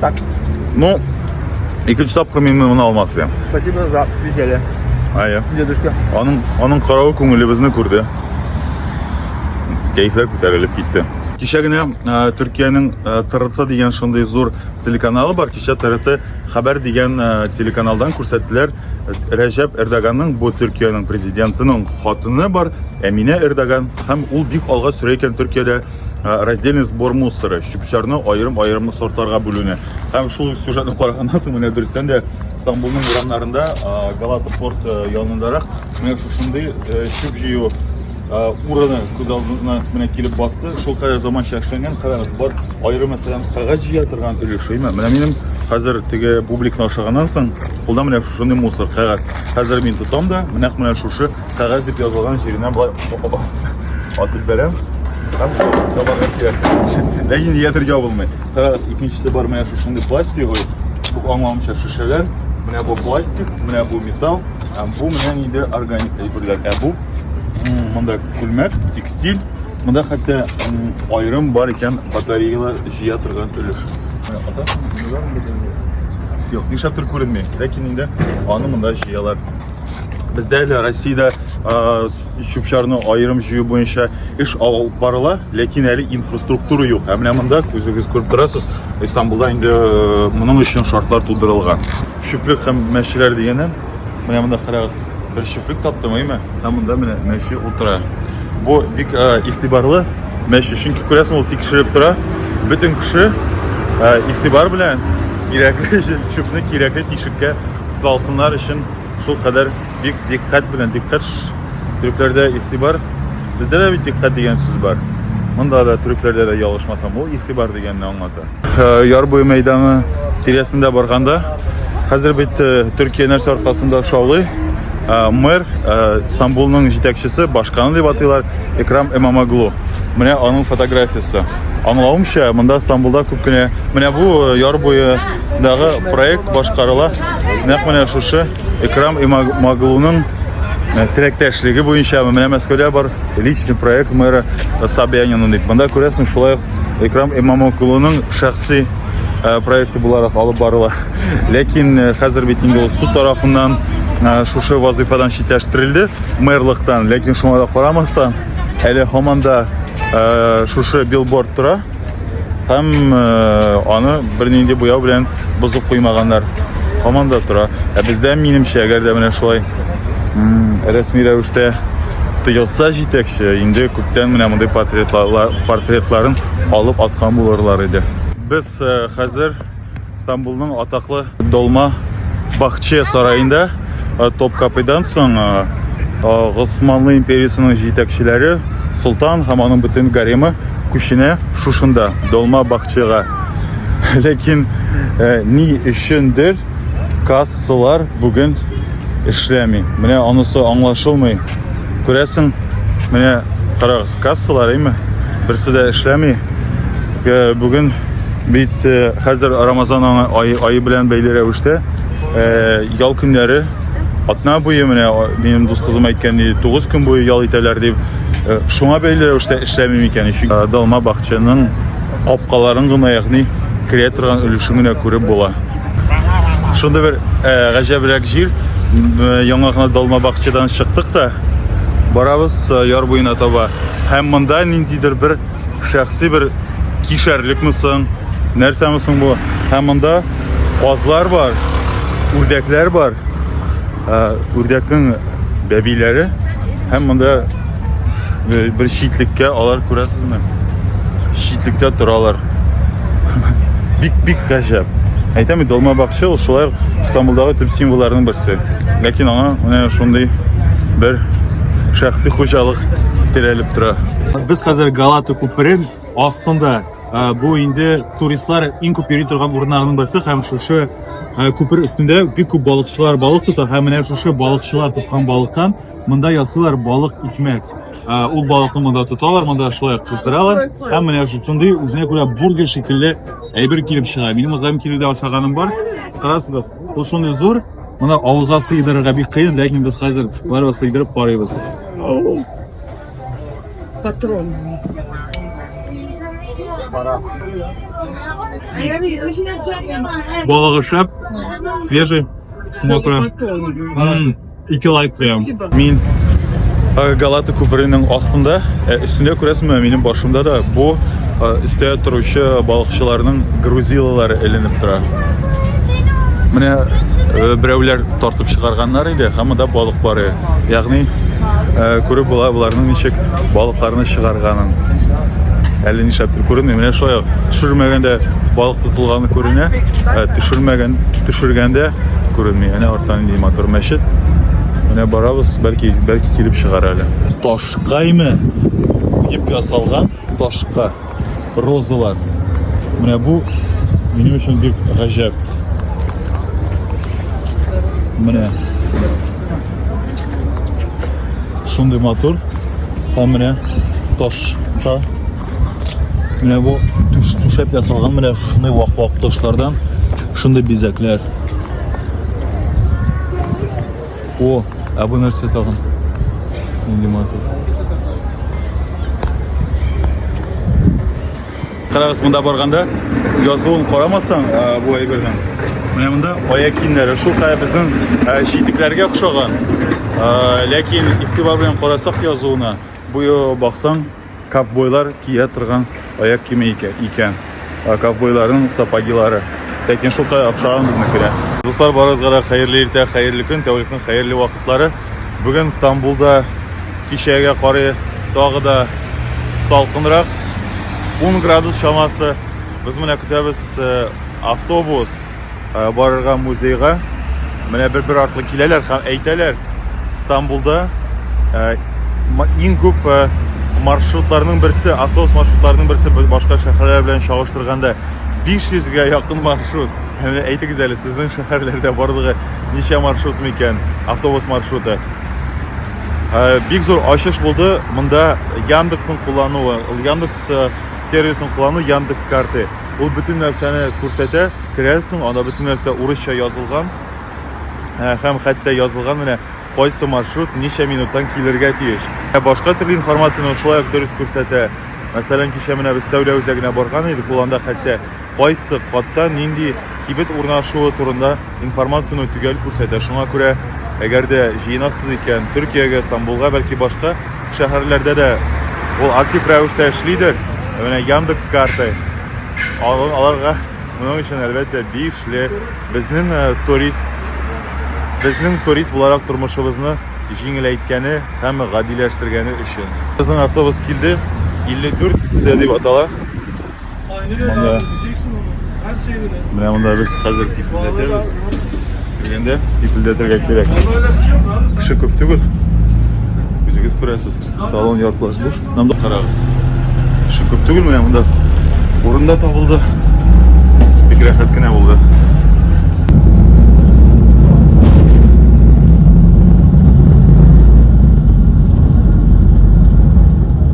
Так. Ну, и ключ тап кроме именно алмаз себе. Спасибо за веселье. А я. Дедушка. Он, он, он корову куму либо знак курды. Кейфер кутер или питте. Кичә генә э, Төркиянең э, ТРТ дигән шундый зур телеканалы бар. Кичә ТРТ хәбәр дигән э, телеканалдан күрсәттеләр Рәҗәп Эрдоганның бу Төркиянең президентының хатыны бар, Әминә Эрдоган һәм ул бик алга сөрә икән Төркиядә раздельный сбор мусора чүп-чарны аерым-аерым сортларга бүлүне һәм шул сюжетны караганнан соң менә дөрестән дә Стамбулның урамнарында Галата порт янындарак менә шушындый чүп җыю урыны күз алдына менә килеп басты шул кадәр заманча эшләнгән карагыз бар аерым мәсәлән кәгазь җыя торган өлеше менә минем хәзер теге бубликны ашаганнан соң кулда менә шушындый мусор кәгазь хәзер мин тотам да менә менә шушы Кәгазь дип язылган җиренә болай атып бәрәм. Һәм табарга кирәк. Ләкин ятыр ябылмый. Кәгазь икенчесе бар менә шушындый пластиковый. Бу аңламча шешәләр. Менә бу пластик, менә бу металл, һәм бу менә инде органик әйберләр. Ә бу монда күлмәк, текстиль. Монда хәтта аерым бар икән батареялар җыя торган өлеш. Юк, нишләптер күренми. Ләкин инде аны монда җыялар. Бездә әле Россиядә чүп-чарны аерым җыю буенча эш алып барыла, ләкин әле инфраструктура юк. Ә менә монда күзегез күреп торасыз, Истанбулда инде э, моның өчен шартлар тудырылган. Чүплек һәм мәчеләр дигәннән, менә монда карагыз, бер чүплек таптым, әйме? Ә монда менә мәче утыра. Бу бик э, игътибарлы мәче, чөнки күрәсең, ул тикшереп тора. Бөтен кеше э, игътибар белән кирәкле чүпне кирәкле тишеккә Салсыннар өчен шул кадәр бик диккать белән, диккать төрекләрдә игътибар. Бездә дә бит диккать дигән сүз бар. Монда да төрекләрдә дә ялгышмасам, ул игътибар дигәнне аңлата. Э, яр буе мәйданы тирәсендә барганда, хәзер бит э, Төркия нәрсә аркасында шаулый? Э, мэр Стамбулның җитәкчесе, башканы дип атыйлар, Экрам Эмамаглу. Менә аның фотографиясе. Аңлавымча, монда Стамбулда күп кенә, менә бу яр буе Дагы проект башкарыла. Нәкъ менә шушы Икрам Имамоглуның э, теләктәшлеге буенча менә Мәскәүдә бар личный проект мэра Собянина дип. Монда күрәсең, шулай ук Икрам Имамоглуның шәхси э, проекты буларак алып барыла. Ләкин э, хәзер бит инде ул суд тарафыннан шушы вазыйфадан читләштерелде мэрлыктан. Ләкин шуңа да карамастан, әле һаман да шушы билборд тора. Һәм э, аны бернинди буяу белән бозып куймаганнар. Һаман да тора. Ә бездә минемчә, әгәр дә менә шулай рәсми рәвештә тыелса җитәкче, инде күптән менә мондый портретлар, портретларын алып аткан булырлар иде. Без э, хәзер Стамбулның атаклы Долма Бахче сараенда э, Топкапыйдан соң э, э, Госманлы империясының җитәкчеләре Солтан һәм аның бөтен гаремы күченә шушында Долма Бахчега. Ләкин ни өчендер кассалар бүген эшләми. Менә анысы аңлашылмый. Күрәсең, менә карагыз. Кассалар әйме, берсе дә эшләми. Э, бүген бит э, хәзер Рамазан айы, айы белән бәйле рәвештә э, ял көннәре атна буе менә минем дус кызым әйткән иде, 9 көн буе ял итәләр дип. Шуңа бәйле рәвештә эшләми микән? Чөнки Далма бакчаның Капкаларын гына, ягъни керә торган өлешен генә күреп була. Шунда бер э, гаҗәбрәк җир. Э, яңа гына далма бакчадан чыктык та барабыз э, яр буена таба. Һәм монда ниндидер бер шәхси бер кишәрлекме соң, нәрсәме соң бу? Һәм монда казлар бар, үрдәкләр бар. Үрдәкнең бәбиләре һәм монда Бер читлеккә алар күрәсезме? Читлеккә торалар. Бик-бик гаҗәп. Әйтәм бит, Долма бакчы ул шулай Стамбулдагы төп символларның берсе. Ләкин аңа менә шундый бер шәхси хуҗалык терәлеп тора. Без хәзер Галата күперен астында. Бу инде туристлар иң күп йөри торган урыннарның берсе һәм шушы күпер өстендә бик күп балыкчылар балык тота һәм менә шушы балыкчылар тоткан балыктан Монда ясыйлар балык икмәк. Ул балыкны монда тоталар, монда шулай кыздыралар. Һәм менә шундый үзенә күрә бургер шикелле әйбер килеп чыга. Минем үзем килүдә ашаганым бар. Карасыгыз, ул шундый зур, моны авызга сыйдырырга бик кыен, ләкин без хәзер барыбыз сыйдырып карыйбыз. Патрон. Балыгы шәп, свежий. Мокро. Ике лайк куям. Мин э, Галата күперенең астында, э, өстендә күрәсеңме, минем башымда да бу э, өстә торучы балыкчыларның грузилалары эленеп тора. Менә берәүләр тартып чыгарганнар иде, һәм монда балык бар. Ягъни күреп була боларның ничек балыкларны чыгарганын. Әле нишләптер күренми. Менә шулай төшермәгәндә балык тотылганы күренә, төшермәгән төшергәндә Күренми. Әнә арттан нинди матур мәчет. Менә барабыз, бәлки, бәлки килеп чыгар әле. Ташкаймы? Дип ясалган ташка розалар. Менә бу минем өчен бик гаҗәп. Менә. Шундый матур. Һәм менә ташка Менә бу түш, түшәп ясалган менә шундый вак-вак ташлардан шундый бизәкләр. О, ә бу нәрсә тагын? Нинди матур. Карагыз, монда барганда язуын карамасаң, бу әйбернең. Менә монда аяк киемнәре, шул хәя безнең җитекләргә охшаган. Ләкин игътибар белән карасак язуына, бу баксаң, Ковбойлар кия торган аяк киеме икән. Ковбойларның сапагилары. Ләкин шул кадәр охшаган безнекеләр. Дуслар, барыгызга да хәерле иртә, хәерле көн, тәүлекнең хәерле вакытлары. Бүген Стамбулда кичәгә карый тагы да салкынрак. 10 градус чамасы. Без менә көтәбез э, автобус. барырга музейга. Менә бер-бер артлы киләләр һәм әйтәләр, Стамбулда иң күп маршрутларның берсе, автобус маршрутларының берсе башка шәһәрләр белән чагыштырганда 500 га якын маршрут. Менә әйтегез әле, сезнең шәһәрләрдә барлыгы ничә маршрут микән? Автобус маршруты. Э, бик зур ачыш булды. Монда Яндексның куллануы, Яндекс э, сервисын куллану, Яндекс карты. Ул бөтен нәрсәне күрсәтә. Керәсең, анда бөтен нәрсә урысча язылган. Һәм хәтта язылган менә кайсы маршрут ничә минуттан килергә тиеш. Ә башка төрле информацияне шулай ук дөрес күрсәтә. Мәсәлән, кичә менә без сәүдә үзәгенә барган идек, ул анда хәтта кайсы катта нинди кибет урнашуы турында Информацияне төгәл күрсәтә, шуңа күрә, әгәр дә җыенасыз икән, Төркиягә, Стамбулга, бәлки башка шәһәрләрдә дә ул актив рәвештә эшлидер. Ә менә Яндекс карты, аларга моның өчен әлбәттә бишле. Безнең э, турист безнең турист буларак тормышыбызны җиңеләйткәне һәм гадиләштергәне өчен. Безнең автобус килде. 54 дип атала. Монда менә монда без хәзер кипелдәтәбез. Килгәндә кипелдәтергә кирәк. Кеше күп түгел. Үзегез күрәсез. Салон яртылаш буш. Нам да карагыз. Кеше күп түгел менә монда. Урында табылды. Бик рәхәт кенә булды.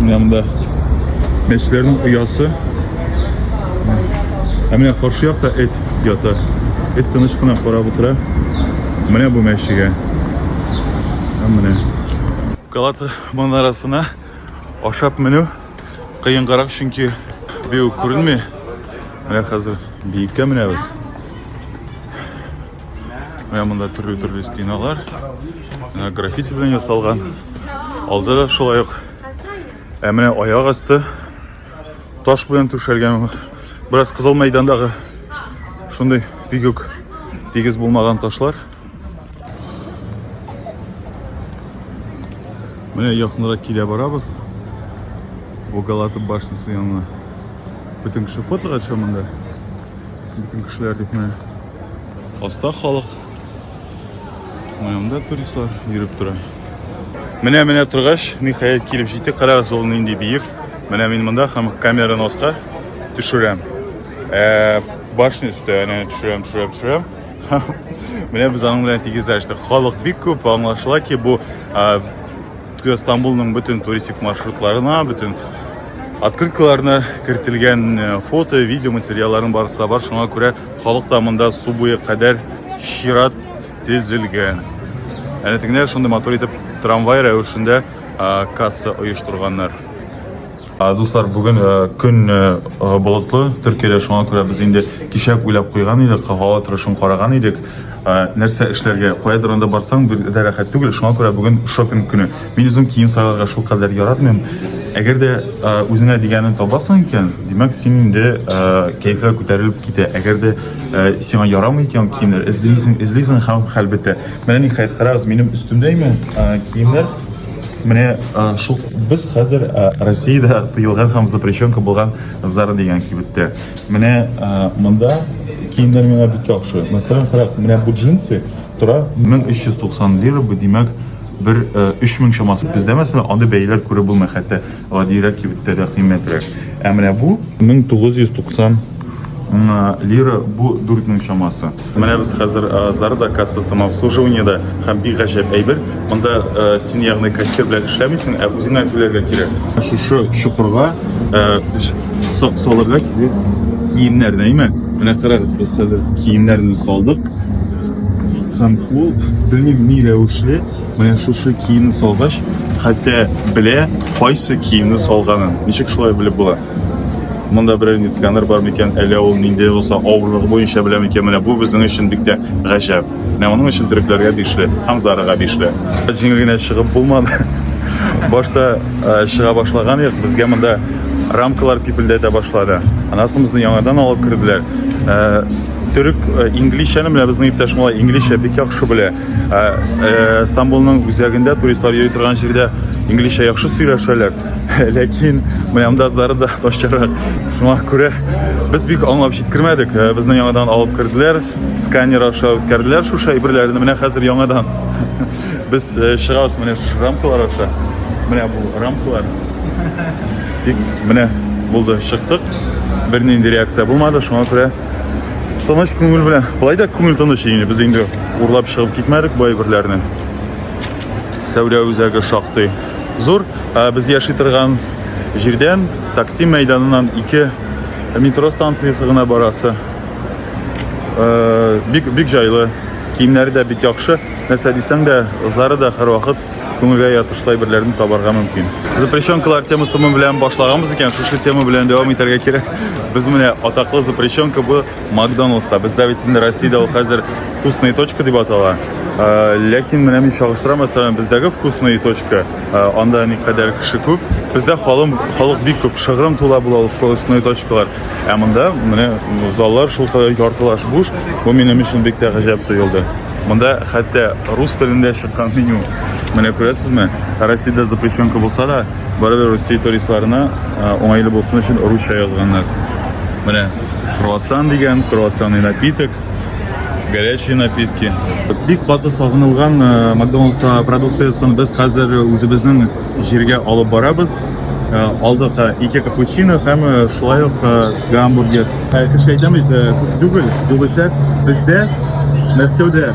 Менә монда мәчетләрнең оясы. Ә менә каршы якта эт ята. Эт тыныч кына карап утыра. Менә бу мәчегә. Ә менә Галата манарасына ашап менү кыенгарак, чөнки бию күренми. Менә хәзер биеккә менәбез. Менә монда төрле-төрле стеналар ә, граффити белән ясалган. Алда да шулай ук. Ә менә аяк асты таш белән түшәлгән. Бераз кызыл мәйдандагы шундый бик үк тигез булмаган ташлар. Менә якынрак килә барабыз. Бу Галата башнясы янына. Бөтен кеше фотога төшә монда. Бөтен кешеләр дип менә Аста халык. Уянда туристлар йөреп тора. Менә менә торгач, ниһаять килеп җитте. Карагыз, ул нинди биек. Менә мин монда һәм камераны аска төшерәм. Ә, башны өстә әнә төшерәм, төшерәм, төшерәм. Менә без аның белән тигезләштек. Халык бик күп, аңлашыла ки, бу Токио Стамбулның бөтен туристик маршрутларына, бөтен открыткаларына кертелгән э, фото, видео материалларын барысы да бар. Шуңа күрә халык та монда су буе кадәр чират тезелгән. Әнә тегенә шундый матур итеп трамвай рәвешендә касса оештырганнар. Дуслар, бүген көн болытлы, Төркиядә шуңа күрә без инде кичәк уйлап куйган идек, һава торышын караган идек. Нәрсә эшләргә, кая торганда барсаң, бер дә рәхәт түгел, шуңа күрә бүген шопинг көне. Мин үзем кием сайларга шул кадәр яратмыйм. Әгәр дә үзеңә дигәнен табасың икән, димәк, син инде кәефләр күтәрелеп китә. Әгәр дә сиңа ярамый икән киемнәр, эзлисең, эзлисең һәм хәлбәттә. Менә ниһаять, карагыз, минем өстемдә имә киемнәр. Менә шул без хәзер Россиядә тыелган һәм запрещенка булган Зара дигән кибеттә. Менә монда киемнәр миңа бик яхшы. Мәсәлән, карагыз, менә бу джинсы тора 1390 лира, бу димәк бер 3000 чамасы. Бездә мәсәлән андый бәяләр күреп булмый хәтта. Гадирәк кибеттә дә кыйммәтрәк. Ә менә бу 1990 лира бу 4 мең чамасы. Менә без хәзер Зарда касса самообслуживаниедә һәм бик гаҗәп әйбер. Монда син ягъни кассир белән эшләмисең, ә үзеңә түләргә кирәк. Шушы чокырга салырга кирәк киемнәр, дәйме? Менә карагыз, без хәзер киемнәрне салдык. Һәм ул белмим ни рәвешле. Менә шушы киемне салгач, хәтта белә, кайсы киемне салганын. Ничек шулай белеп була? Монда берәр ни сканер бар микән, әллә ул нинди булса авырлыгы буенча белә микән? Менә бу безнең өчен бик тә гаҗәп. Менә моның өчен төрекләргә тиешле, Ханзарага тиешле. Җиңел генә чыгып булмады. Башта э, чыга башлаган идек, безгә монда рамкалар пипелдәтә башлады. Анасын безне яңадан алып керделәр. Э, Төрек э, инглизчәне менә безнең иптәш малай инглизчә бик яхшы белә. Ә, ә, Стамбулның үзәгендә туристлар йөри торган җирдә инглизчә яхшы сөйләшәләр, ләкин монда зарда ташчарак. Шуңа күрә без бик аңлап җиткермәдек. Ә, безне яңадан алып керделәр, сканер аша үткәрделәр шушы әйберләрне. Менә хәзер яңадан без ә, чыгабыз менә шушы рамкалар аша. Менә бу рамкалар. Тик менә булды, чыктык. Бернинди реакция булмады, шуңа күрә Тыныч күңел белән. Болай да күңел тыныч инде. Без инде урлап чыгып китмәдек бай берләрне. Сәүдә үзәге шактый зур. Ә без яши торган җирдән такси мәйданыннан ике метро станциясе гына барасы. Бик бик җайлы. Киемнәре дә бик яхшы. Нәрсә дисәң дә, зары да һәрвакыт күңелгә ятышлай берләрне табарга мөмкин. Запрещенкалар темасы белән башлаганбыз икән, шушы тема белән дәвам итәргә кирәк. Без менә атаклы запрещенка бу Макдоналдста. Бездә бит инде Россиядә ул хәзер вкусные точка дип атала. Э, ләкин менә мин чагыштырам, мәсәлән, бездәге вкусные точка, э, анда никадәр кеше күп. Бездә халым, халык бик күп, шыгрым тула була ул вкусные точкалар. Ә монда менә заллар шул кадәр яртылаш буш. Бу минем өчен бик тә гаҗәп тоелды. Монда хәтта рус телендә чыккан меню. Менә күрәсезме? Россиядә запрещенка булса да, барыбер Русия туристларына уңайлы булсын өчен русча язганнар. Менә круассан дигән, круассанный напиток, горячие напитки. Бик каты сагынылган Макдоналдс продукциясен без хәзер үзебезнең Җиргә алып барабыз. Э, алдык э, ике капучино һәм э, шулай ук гамбургер. Кеше әйтә бит, күп түгел, югыйсә бездә Мәскәүдә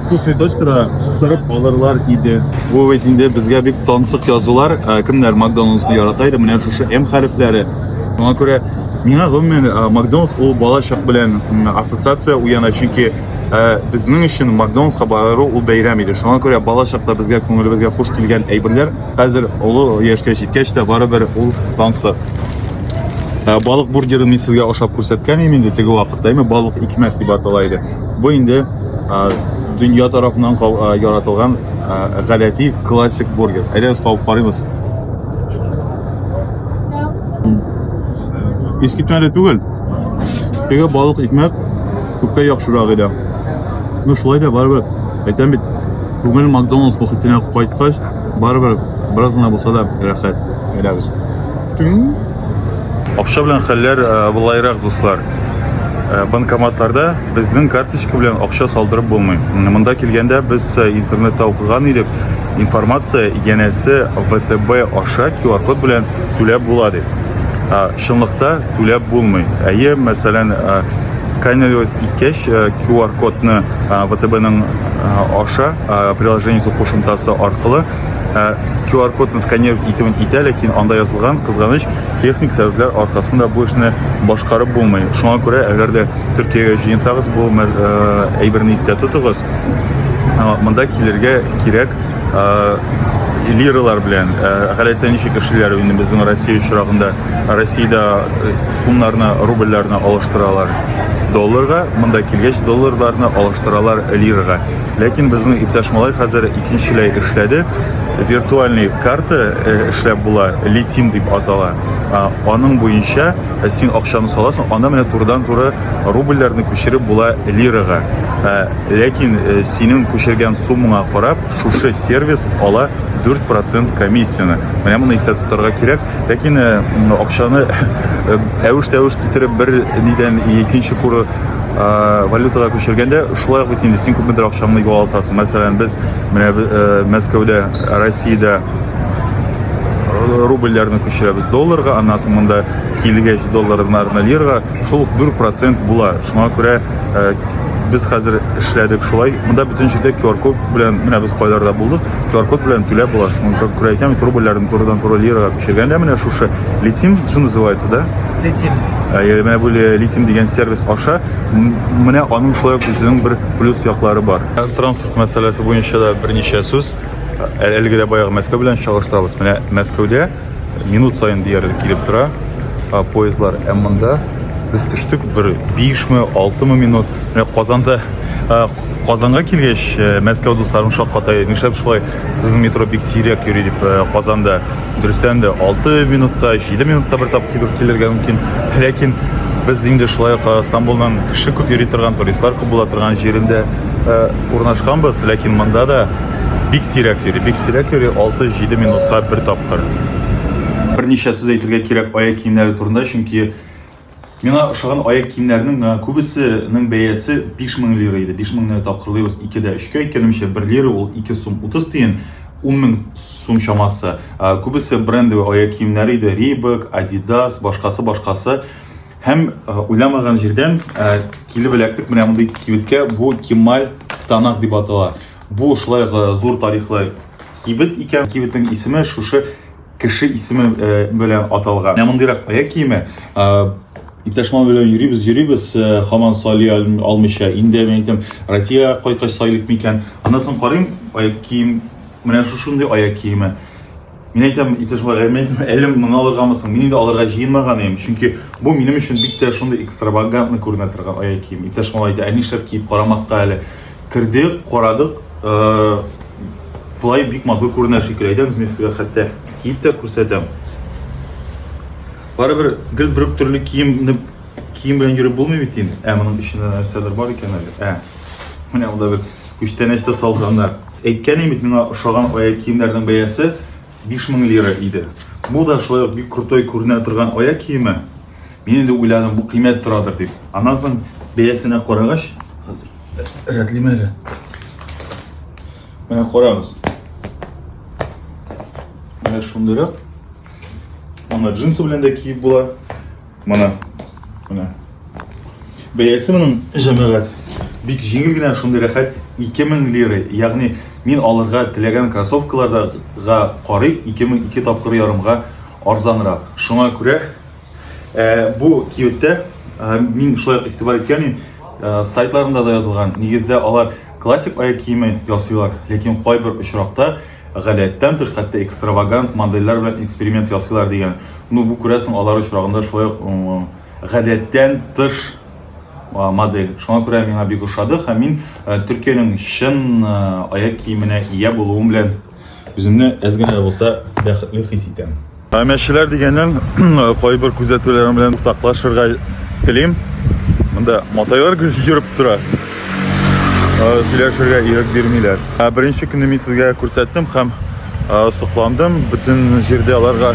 вкусный точкада сырып алырлар иде. Бу бит инде безгә бик тансык язулар. Кемнәр Макдоналдсны ярата иде, менә шушы М хәрефләре. Моңа күрә миңа гомумән Макдоналдс ул балачак белән ассоциация уяна, чөнки Э, безнең өчен Макдональдска барыру ул бәйрәм иде. Шуңа күрә балачакта безгә күңелебезгә хуш килгән әйберләр хәзер олы яшькә җиткәч тә барыбер ул тансы. Э, балык бургерын мин сезгә ашап күрсәткән идем инде теге вакытта, әйме балык икмәк дип атала иде. Бу инде э, дөнья тарафыннан яратылган гадәти классик бургер. Әйдәгез кабып карыйбыз. Искитмәле түгел. Теге балык икмәк Күпкә яхшырак иде. Ну шулай да барыбер, әйтәм бит, күңел Макдоналдс мохитенә кайткач, барыбер бераз гына булса да рәхәт. Әйдәгез. Акча белән хәлләр э, былайрак, дуслар. Э, банкоматларда безнең карточка белән акча салдырып булмый. Монда килгәндә без э, интернетта укыган идек, информация янәсе ВТБ аша QR-код белән түләп була дип. Чынлыкта Түләп булмый. Әйе, мәсәлән, сканерлыйс иткәч, QR-кодны ВТБның аша приложениесе кушымтасы аркылы QR-кодны сканировать итүен итә, ләкин анда язылган кызганыч техник сәбәпләр аркасында бу эшне башкарып булмый. Шуңа күрә, әгәр дә Төркиягә җыенсагыз, бу әйберне истә тотыгыз, монда килергә кирәк. лиралар белән гадәттә ничек эшлиләр инде безнең россия очрагында россиядә сумнарны рубльләрне алыштыралар долларга монда килгәч долларларны алыштыралар лирага ләкин безнең иптәш малай хәзер икенчеләй эшләде виртуальный карта эшләп була литим дип атала аның буенча син акчаны саласың анда менә турыдан туры Рубльләрне күчереп була лирага. Ә, ләкин э, синең күчергән суммаңа карап, шушы сервис ала 4% комиссияне. Менә моны истә тотарга кирәк. Ләкин э, м, акчаны э, әвеш-тәвеш китереп бер нидән икенче куры э, валютага күчергәндә, шулай ук бит инде син күпмедер акчаңны югалтасың. Мәсәлән, без менә э, Мәскәүдә, Россиядә рубльләрне күчерәбез долларга, аннан соң монда килгәч долларны лирага, Шул ук дүрт процент була. Шуңа күрә э, без хәзер эшләдек шулай. Монда бөтен җирдә QR-код белән, менә без кайларда булдык, QR-код белән түләп була. Шуңа күрә әйтәм бит, рубльләрне турыдан туры лираға күчергәндә менә шушы летим, что называется, да? Летим. Ә, Менә бу ле- летим дигән сервис аша м- менә аның шулай ук үзенең бер плюс яклары бар. Ә Транспорт мәсьәләсе буенча да берничә сүз. Ә- Әлеге дә баягы Мәскәү белән чагыштырабыз. Менә Мәскәүдә минут сайын диярлек килеп тора поездлар ә монда без төштек бер бишме алтымы минут менә казанда казанга килгәч мәскәү дусларым шаккатай нишләп шулай сезнең метро бик сирәк йөри дип казанда дөрестән дә алты минутта җиде минутта бер тапкыр килергә мөмкин ләкин без инде шулай ук стамбулдан кеше күп йөри торган туристлар күп була торган җирендә урнашканбыз ләкин монда да Бик сирәк йөри, бик сирәк йөри, 6-7 минутка бер тапкыр. Берничә сүз әйтергә кирәк аяк киемнәре турында, чөнки миңа ошаган аяк киемнәрнең миңа күбесенең бәясе 5000 лира иде. 5000-ны тапкырлыйбыз 2-дә 3-кә, икәнемчә 1 лира ул 2 сум 30 тиен, 10000 сум чамасы. Күбесе брендовый аяк киемнәре иде, Reebok, Adidas, башкасы, башкасы. Һәм уйламаган җирдән килеп эләктек менә мондый кибеткә, бу Кемаль Танак дип атала. Бу шулай ук зур тарихлы кибет икән. Кибетнең исеме шушы кеше исеме белән аталган. Менә мондыйрак аяк киеме. Иптәш Мал белән йөрибез, йөрибез, хаман сали алмыйча. Инде мин әйтәм, Россиягә кайткач сайлыйк микән? Аннан соң карыйм, аяк кием, менә шушындый аяк киеме. Мин әйтәм, иптәш Валерий, мин әйтәм, әлем моны алыргамы соң? Мин инде алырга җыенмаган идем, чөнки бу минем өчен бик тә шундый экстравагантный күренә торган аяк кием. Иптәш малай әйтә, ә нишләп киеп карамаска әле? Кердек, карадык, болай бик матур күренә шикелле. Әйдәгез, мин сезгә хәтта киеп тә күрсәтәм. Барыбер гел бер төрле кием кием белән йөреп булмый бит инде. Ә моның эчендә нәрсәдер бар икән әле. Ә, менә анда бер Күчтәнәч тә салганнар. Әйткәнем бит, миңа ошаган аяк киемнәрнең бәясе 5000 лира иде. Бу да шулай ук бик крутой күренә торган аяк киеме. Мин инде уйладым, бу кыйммәт торадыр дип. Аннан соң бәясенә карагач, хәзер рәтлим әле. Менә карагыз. Менә шундыйрак. Аны джинсы белән дә киеп була. Моны, моны. Бәясе моның җәмәгать. Бик җиңел генә шундый рәхәт 2000 лира. Ягъни мин алырга теләгән кроссовкаларга карый 2002 тапкыр ярымга арзанрак. Шуңа күрә э, бу киюттә э, мин шулай игътибар иткән идем. Э, сайтларында да язылган. Нигездә алар классик аяк киеме ясыйлар, ләкин кайбер очракта Гадәттән тыш, хәтта экстравагант модельләр белән эксперимент ясыйлар дигән. Ну, бу күрәсең, алар очрагында шулай ук гадәттән тыш модель. Шуңа күрә миңа бик ошады һәм мин Төркиянең чын аяк киеменә ия булуым белән үземне әз генә дә булса бәхетле хис итәм. Ә мәчеләр дигәннән кайбер күзәтүләрем белән уртаклашырга телим. Монда матайлар йөреп тора. Сөйләшергә ирек бирмиләр. Беренче көнне мин сезгә күрсәттем һәм сокландым. Бөтен җирдә аларга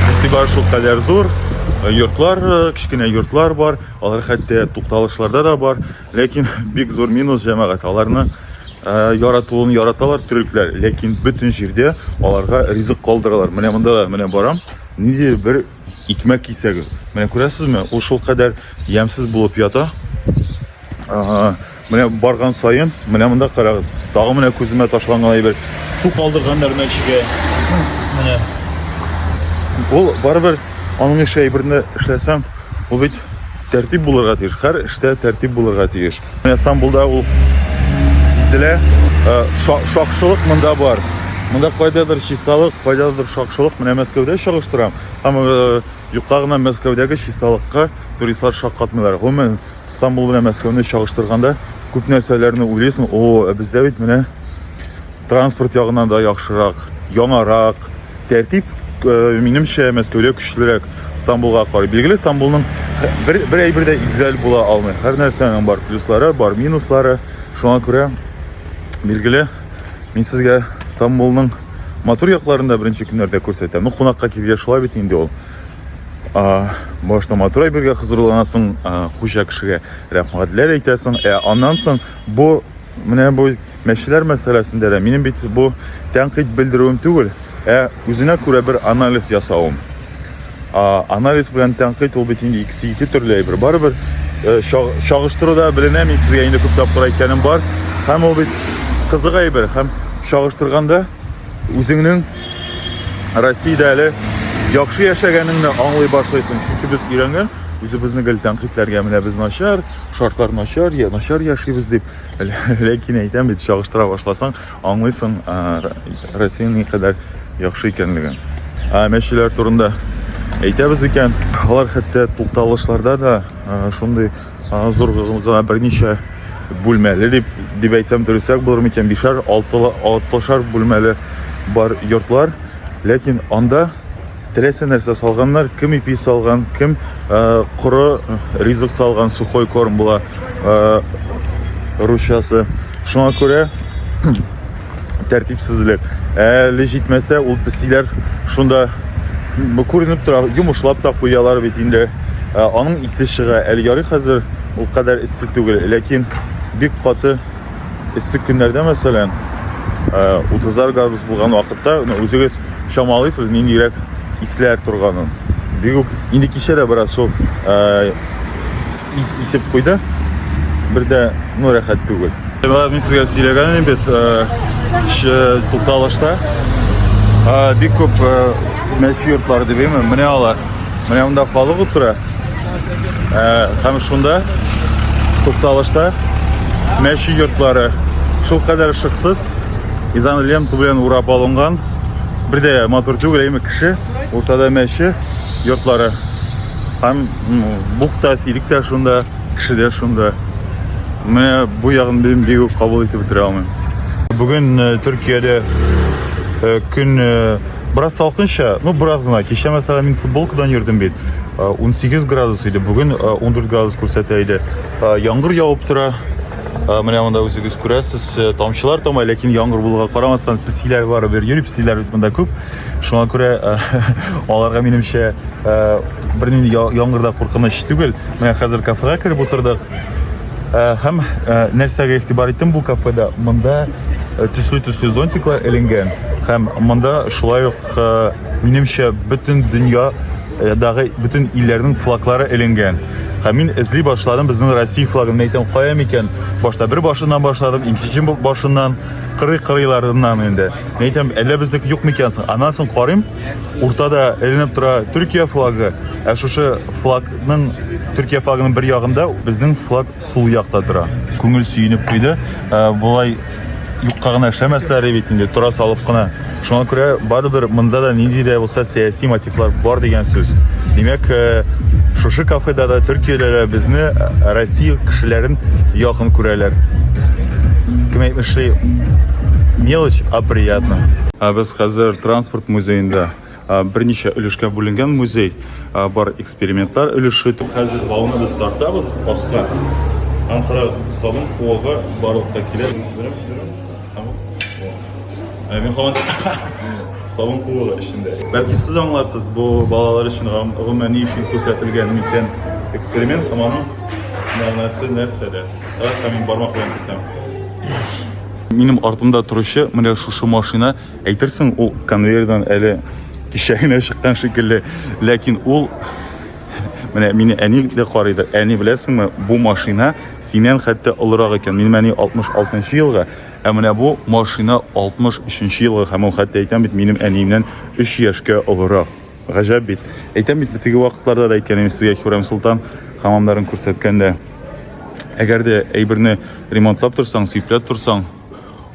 игътибар шул кадәр зур. Йортлар, кечкенә йортлар бар. Алар хәтта тукталышларда да бар. Ләкин бик зур минус җәмәгать. Аларны э, яратуын яраталар төрекләр, ләкин бөтен җирдә аларга ризык калдыралар. Менә монда да менә барам, ниндидер бер икмәк кисәге. Менә күрәсезме, ул шулкадәр ямьсез булып ята. Ага, менә барган саен, менә монда карагыз. Тагы менә күземә ташланган әйбер. Су калдырганнар мәчегә. Менә. Ул барыбер аның эше әйберне эшләсәм, Бу бит тәртип булырга тиеш. Һәр эштә тәртип булырга тиеш. Менә Стамбулда ул сизелә. Э, шакшылык монда бар. Монда кайдадыр чисталык, кайдадыр шакшылык. Менә Мәскәүдә чагыштырам. Һәм э, юкка гына Мәскәүдәге чисталыкка туристлар шаккатмыйлар. Гомумән, Стамбул белән Мәскәүне чагыштырганда күп нәрсәләрне уйлыйсың. О, ә бездә бит менә транспорт ягынан да яхшырак, яңарак. Тәртип, э, минемчә, Мәскәүдә көчлерәк, Стамбулга карый. Билгеле, Стамбулның бер, бер әйбер дә идеаль була алмый. Һәр нәрсәнең бар плюслары, бар минуслары. Шуңа күрә, билгеле, мин сезгә Стамбулның матур якларын да беренче көннәрдә күрсәтәм. Ну, кунакка килгәч шулай бит инде ул. А, башта матур әйбергә хозурланасың, а, хуҗа кешегә рәхмәтләр әйтәсең. Ә аннан соң бу менә бу Мәчеләр мәсьәләсендә дә минем бит бу тәнкыйть белдерүем түгел, ә үзенә күрә бер анализ ясавым. А, анализ белән тәнкыйть ул бит инде икесе ике төрле әйбер. Барыбер э, чагыштыруда беленә, мин сезгә инде күп тапкыр әйткәнем бар. Һәм ул бит кызык әйбер, һәм чагыштырганда үзеңнең Россиядә әле яхшы яшәгәнеңне аңлый башлыйсың. Чөнки без өйрәнгән, үзебезне гел тәнкыйтьләргә менә без начар, шартлар начар, я начар яшибез дип. Ләкин әйтәм бит, чагыштыра башласаң, аңлыйсың Россиянең никадәр яхшы икәнлеген. Ә мәчеләр турында әйтәбез икән, алар хәтта тукталышларда да шундый зур гына берничә бүлмәле дип дип әйтсәм дөресрәк булыр микән, бишәр, алтылы, алтлышар бүлмәле бар йортлар, ләкин анда Теләсә нәрсә салганнар, кем ипи салган, кем э, коры ризык салган, сухой корм була э, русчасы. Шуңа күрә тәртипсезлек. Әле җитмәсә, ул песиләр шунда бу күренеп тора, йомышлап та куялар бит инде. Э, аның исе чыга. Әле ярый хәзер ул кадәр эссе түгел, ләкин бик каты эссе көннәрдә мәсәлән утызлар градус булган вакытта үзегез чамалыйсыз ниндирәк исләр торганын бик үк инде кичә дә бераз шул ис исеп куйды бер дә ну рәхәт түгел мин сезгә сөйләгән идем бит тукталышта бик күп мәче йортлары дип әйме менә алар менә монда халык утыра Ә, һәм шунда тукталышта мәче йортлары шул кадәр шыксыз изан лента белән урап алынган бер дә матур түгел әйме кеше уртада мәче йортлары һәм бук та сирек тә шунда кеше дә шунда менә бу ягын мин бик үк кабул итеп бетерә алмыйм Бүгін э, Түркияде э, күн э, Бераз салкынча, ну бераз гына. Кичә мәсәлән мин футболкадан йөрдем бит. 18 градус иде, бүген 14 градус күрсәтә иде. Яңгыр явып тора. Менә монда үзегез күрәсез, тамчылар тамай, ләкин яңгыр булуга карамастан песиләр бар бер йөри, песиләр бит монда күп. Шуңа күрә аларга минемчә бернинди яңгырда куркыныч түгел. Менә хәзер кафега кереп утырдык. Э, һәм э, нәрсәгә игътибар иттем бу кафеда монда э, төсле төсле зонтиклар эленгән һәм монда шулай ук минемчә бөтен дөньядагы бөтен илләрнең флаглары эленгән һәм мин эзли башладым безнең россия флагын әйтәм кая микән башта бер башыннан башладым икенче башыннан кырый кырыйларыннан инде әйтәм әллә безнеке юк микән соң аннан соң карыйм Уртада эленеп тора Төркия флагы. Ә шушы флагның Төркия флагының бер ягында безнең флаг сул якта тора. Күңел сөенеп куйды. Ә, Болай юкка гына эшләмәсләре бит инде, тора салып кына. Шуңа күрә барыбер монда да нинди дә булса сәяси мотивлар бар дигән сүз. Димәк, э, шушы кафеда да төркиялеләр безне э, Россия кешеләрен якын күрәләр. Кем әйтмешли, мелочь, а приятно. Ә без хәзер Транспорт музеенда берничә өлешкә бүленгән музей бар экспериментлар өлеше. Хәзер бауны без тартабыз аска. Һәм карагыз, сабын куыгы барлыкка килә. Ә мин һаман сабын куыгы эчендә. Бәлки сез аңларсыз, бу балалар өчен гомумән ни өчен күрсәтелгән микән эксперимент һәм аның мәгънәсе нәрсәдә? Бераз тәм мин бармак белән кертәм. Минем артымда торучы менә шушы машина. Әйтерсең, ул конвейердан әле кичә генә чыккан шикелле, ләкин ул менә мине әни дә карый да, әни беләсеңме, бу машина синен хәтта олырак икән. Минем әни 66 елга, ә менә бу машина 63 елга һәм ул хәтта әйтәм бит, минем әниемнән 3 яшькә олырак. Гаҗәп бит. Әйтәм бит, теге вакытларда да әйткән идем сезгә Хюрәм Султан хамамнарын күрсәткәндә. Әгәр дә әйберне ремонтлап торсаң, сыйплап торсаң,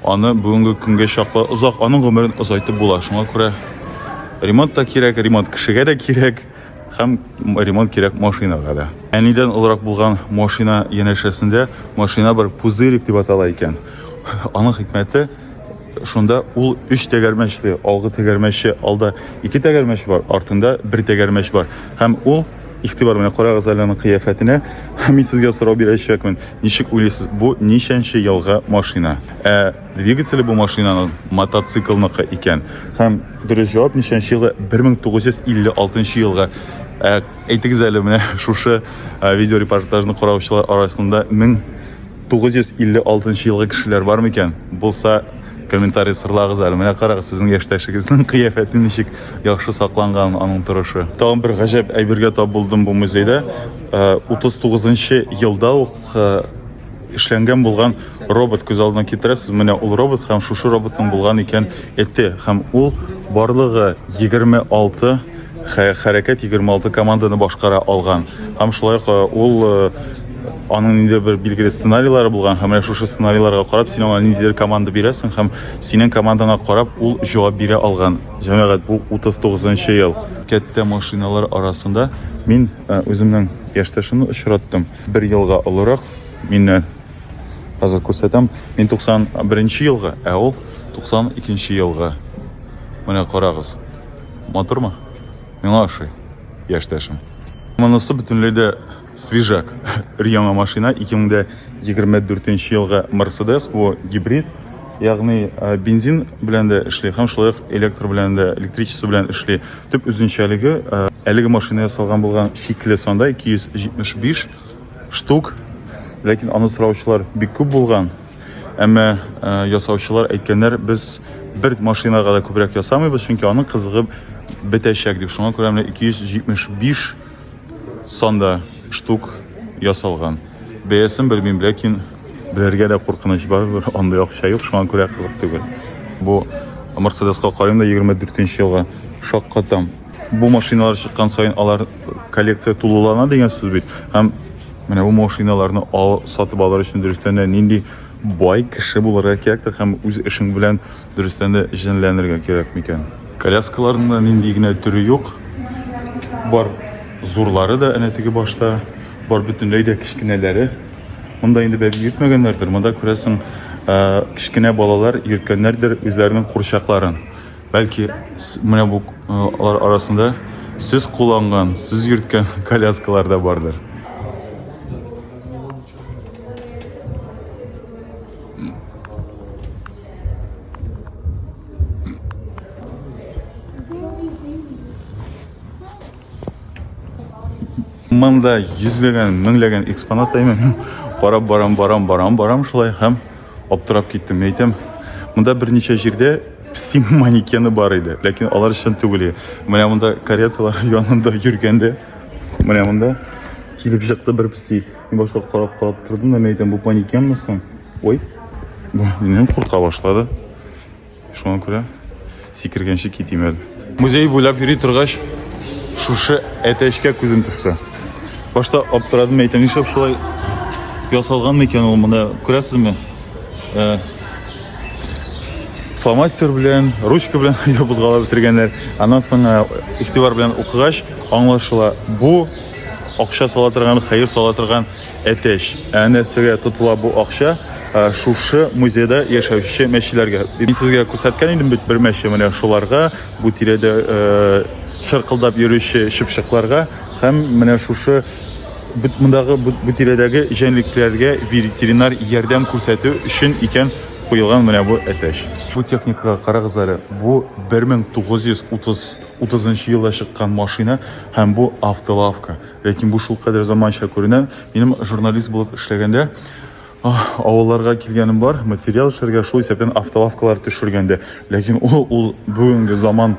Аны бүгенге көнгә чаклы озак, аның гомерен озайтып була. Шуңа күрә ремонт та кирәк, ремонт кешегә дә кирәк, һәм ремонт кирәк машинага да. Әнидән олырак булган машина янәшәсендә машина бер пузырик дип атала икән. Аның хикмәте шунда ул өч тәгәрмәчле, алгы тәгәрмәче, алда ике тәгәрмәч бар, артында бер тәгәрмәч бар. Һәм ул Игътибар белән карагыз әле аның кыяфәтенә. Мин сезгә сорау бирәчәкмен. Ничек уйлыйсыз, бу ничәнче елгы машина? Ә двигателе бу машинаның мотоциклныкы икән. Һәм дөрес җавап ничәнче елгы? 1956 елгы. Ә әйтегез әле менә шушы видеорепортажны караучылар арасында 1000 956 нчы елгы кешеләр бар микән? Булса, комментарий сырлагыз әле. Менә карагыз, сезнең яшьтәшегезнең кыяфәте ничек яхшы сакланган аның торышы. Тагын бер гаҗәп әйбергә тап булдым бу музейда. 39 э, нчы елда ук э, эшләнгән булган робот күз алдына китерәсез. Менә ул робот һәм шушы роботның булган икән эте һәм ул барлыгы 26 хәрәкәт 26 команданы башкара алган. Һәм шулай ук э, ул э, аның нидер бер билгеле сценарийлары булган һәм менә шушы сценарийларга карап син аңа ниндидер команда бирәсең һәм синең командаңа карап ул җавап бирә алган. Җәмәгать, бу 39 ел. Кәттә машиналар арасында мин э, үземнең яшьтәшемне очраттым. Бер елга олырак миннән. Хәзер күрсәтәм. Мин 91 елга, ә ул 92 елга. Менә карагыз. Матурмы? Миңа ошый. Яшьтәшем. Монысы бөтенләй дә свежак. Өр-яңа машина 2024 елга Mercedes бу гибрид, ягъни э, бензин белән дә эшли һәм шулай ук электр белән дә, электричество белән эшли. Төп үзенчәлеге э, әлеге машина ясалган булган чикле санда 275 штук, ләкин аны сораучылар бик күп булган. Әмма ясаучылар әйткәннәр, без бер машинага да күбрәк ясамыйбыз, чөнки аның кызыгы бетәчәк дип. Шуңа күрә менә 275 санда штук ясалган. Бәясен белмим, ләкин белергә дә куркыныч бар, андый акча юк, шуңа күрә кызык түгел. Бу Мерседеска карыйм да 24 елга шаккатам. Бу машиналар чыккан саен алар коллекция тулылана дигән сүз бит. Һәм менә бу машиналарны ал, сатып алыр өчен дөрестән дә нинди бай кеше булырга кирәктер һәм үз эшең белән дөрестән дә җенләнергә кирәк микән? Коляскаларның да нинди генә төре юк. Бар зурлары да әнә теге башта, бар бөтенләй дә кечкенәләре. Монда инде бәби йөртмәгәннәрдер, монда күрәсең, кечкенә балалар йөрткәннәрдер үзләренең курчакларын. Бәлки менә бу алар арасында сез кулланган, сез йөрткән коляскалар да бардыр. Монда йөзләгән, меңләгән экспонат әймен. Карап барам, барам, барам, барам шулай һәм аптырап киттем. Әйтәм, монда берничә җирдә Песи манекены бар иде, ләкин алар чын түгел иде. Менә монда кареталар янында йөргәндә, менә монда килеп чыкты бер песи. Мин башта карап-карап тордым да, мин әйтәм, бу манекенмы соң? Ой, бу миннән курка башлады. Шуңа күрә сикергәнче китим әле. Музей буйлап йөри торгач, шушы әтәчкә күзем төште. Башта аптырадым, әйтәм, нишләп шулай ясалган микән ул монда? Күрәсезме? Э, фломастер белән ручка белән ябызгалап бетергәннәр аннан соң э, игътибар белән укыгач аңлашыла бу акча сала торган хәер сала торган әтәч ә нәрсәгә тотыла бу акча э, шушы музейда яшәүче мәчеләргә мин сезгә күрсәткән идем бит бер мәче менә шуларга бу тирәдә э, чыркылдап йөрүче чыпчыкларга һәм менә шушы Бит мондагы бу тирәдәге җәнлекләргә ветеринар ярдәм күрсәтү өчен икән куелган менә бу әтәч. Бу техникага карагыз әле, бу 1930 елда чыккан машина һәм бу автолавка. Ләкин бу шулкадәр заманча күренә. Минем журналист булып эшләгәндә авылларга килгәнем бар, материал эшләргә, шул исәптән автолавкалар төшергәндә. Ләкин ул, ул бүгенге заман,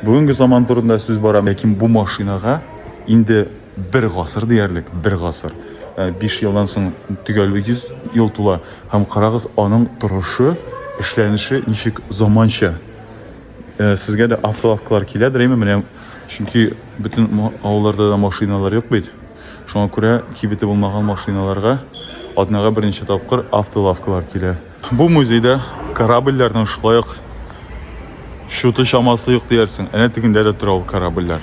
бүгенге заман турында сүз бара. Ләкин бу машинага инде Бер гасыр диярлек, бер гасыр. Биш елдан соң төгәл 100 ел тула. Һәм карагыз, аның торышы, эшләнеше ничек заманча. Сезгә дә автолавкалар киләдер, әйме? Менә, чөнки бөтен авылларда да машиналар юк бит. Шуңа күрә кибете булмаган машиналарга атнага берничә тапкыр автолавкалар килә. Бу музейда корабльләрнең шулай ук чуты чамасы юк диярсең. Әнә тегендә дә тора ул корабльләр.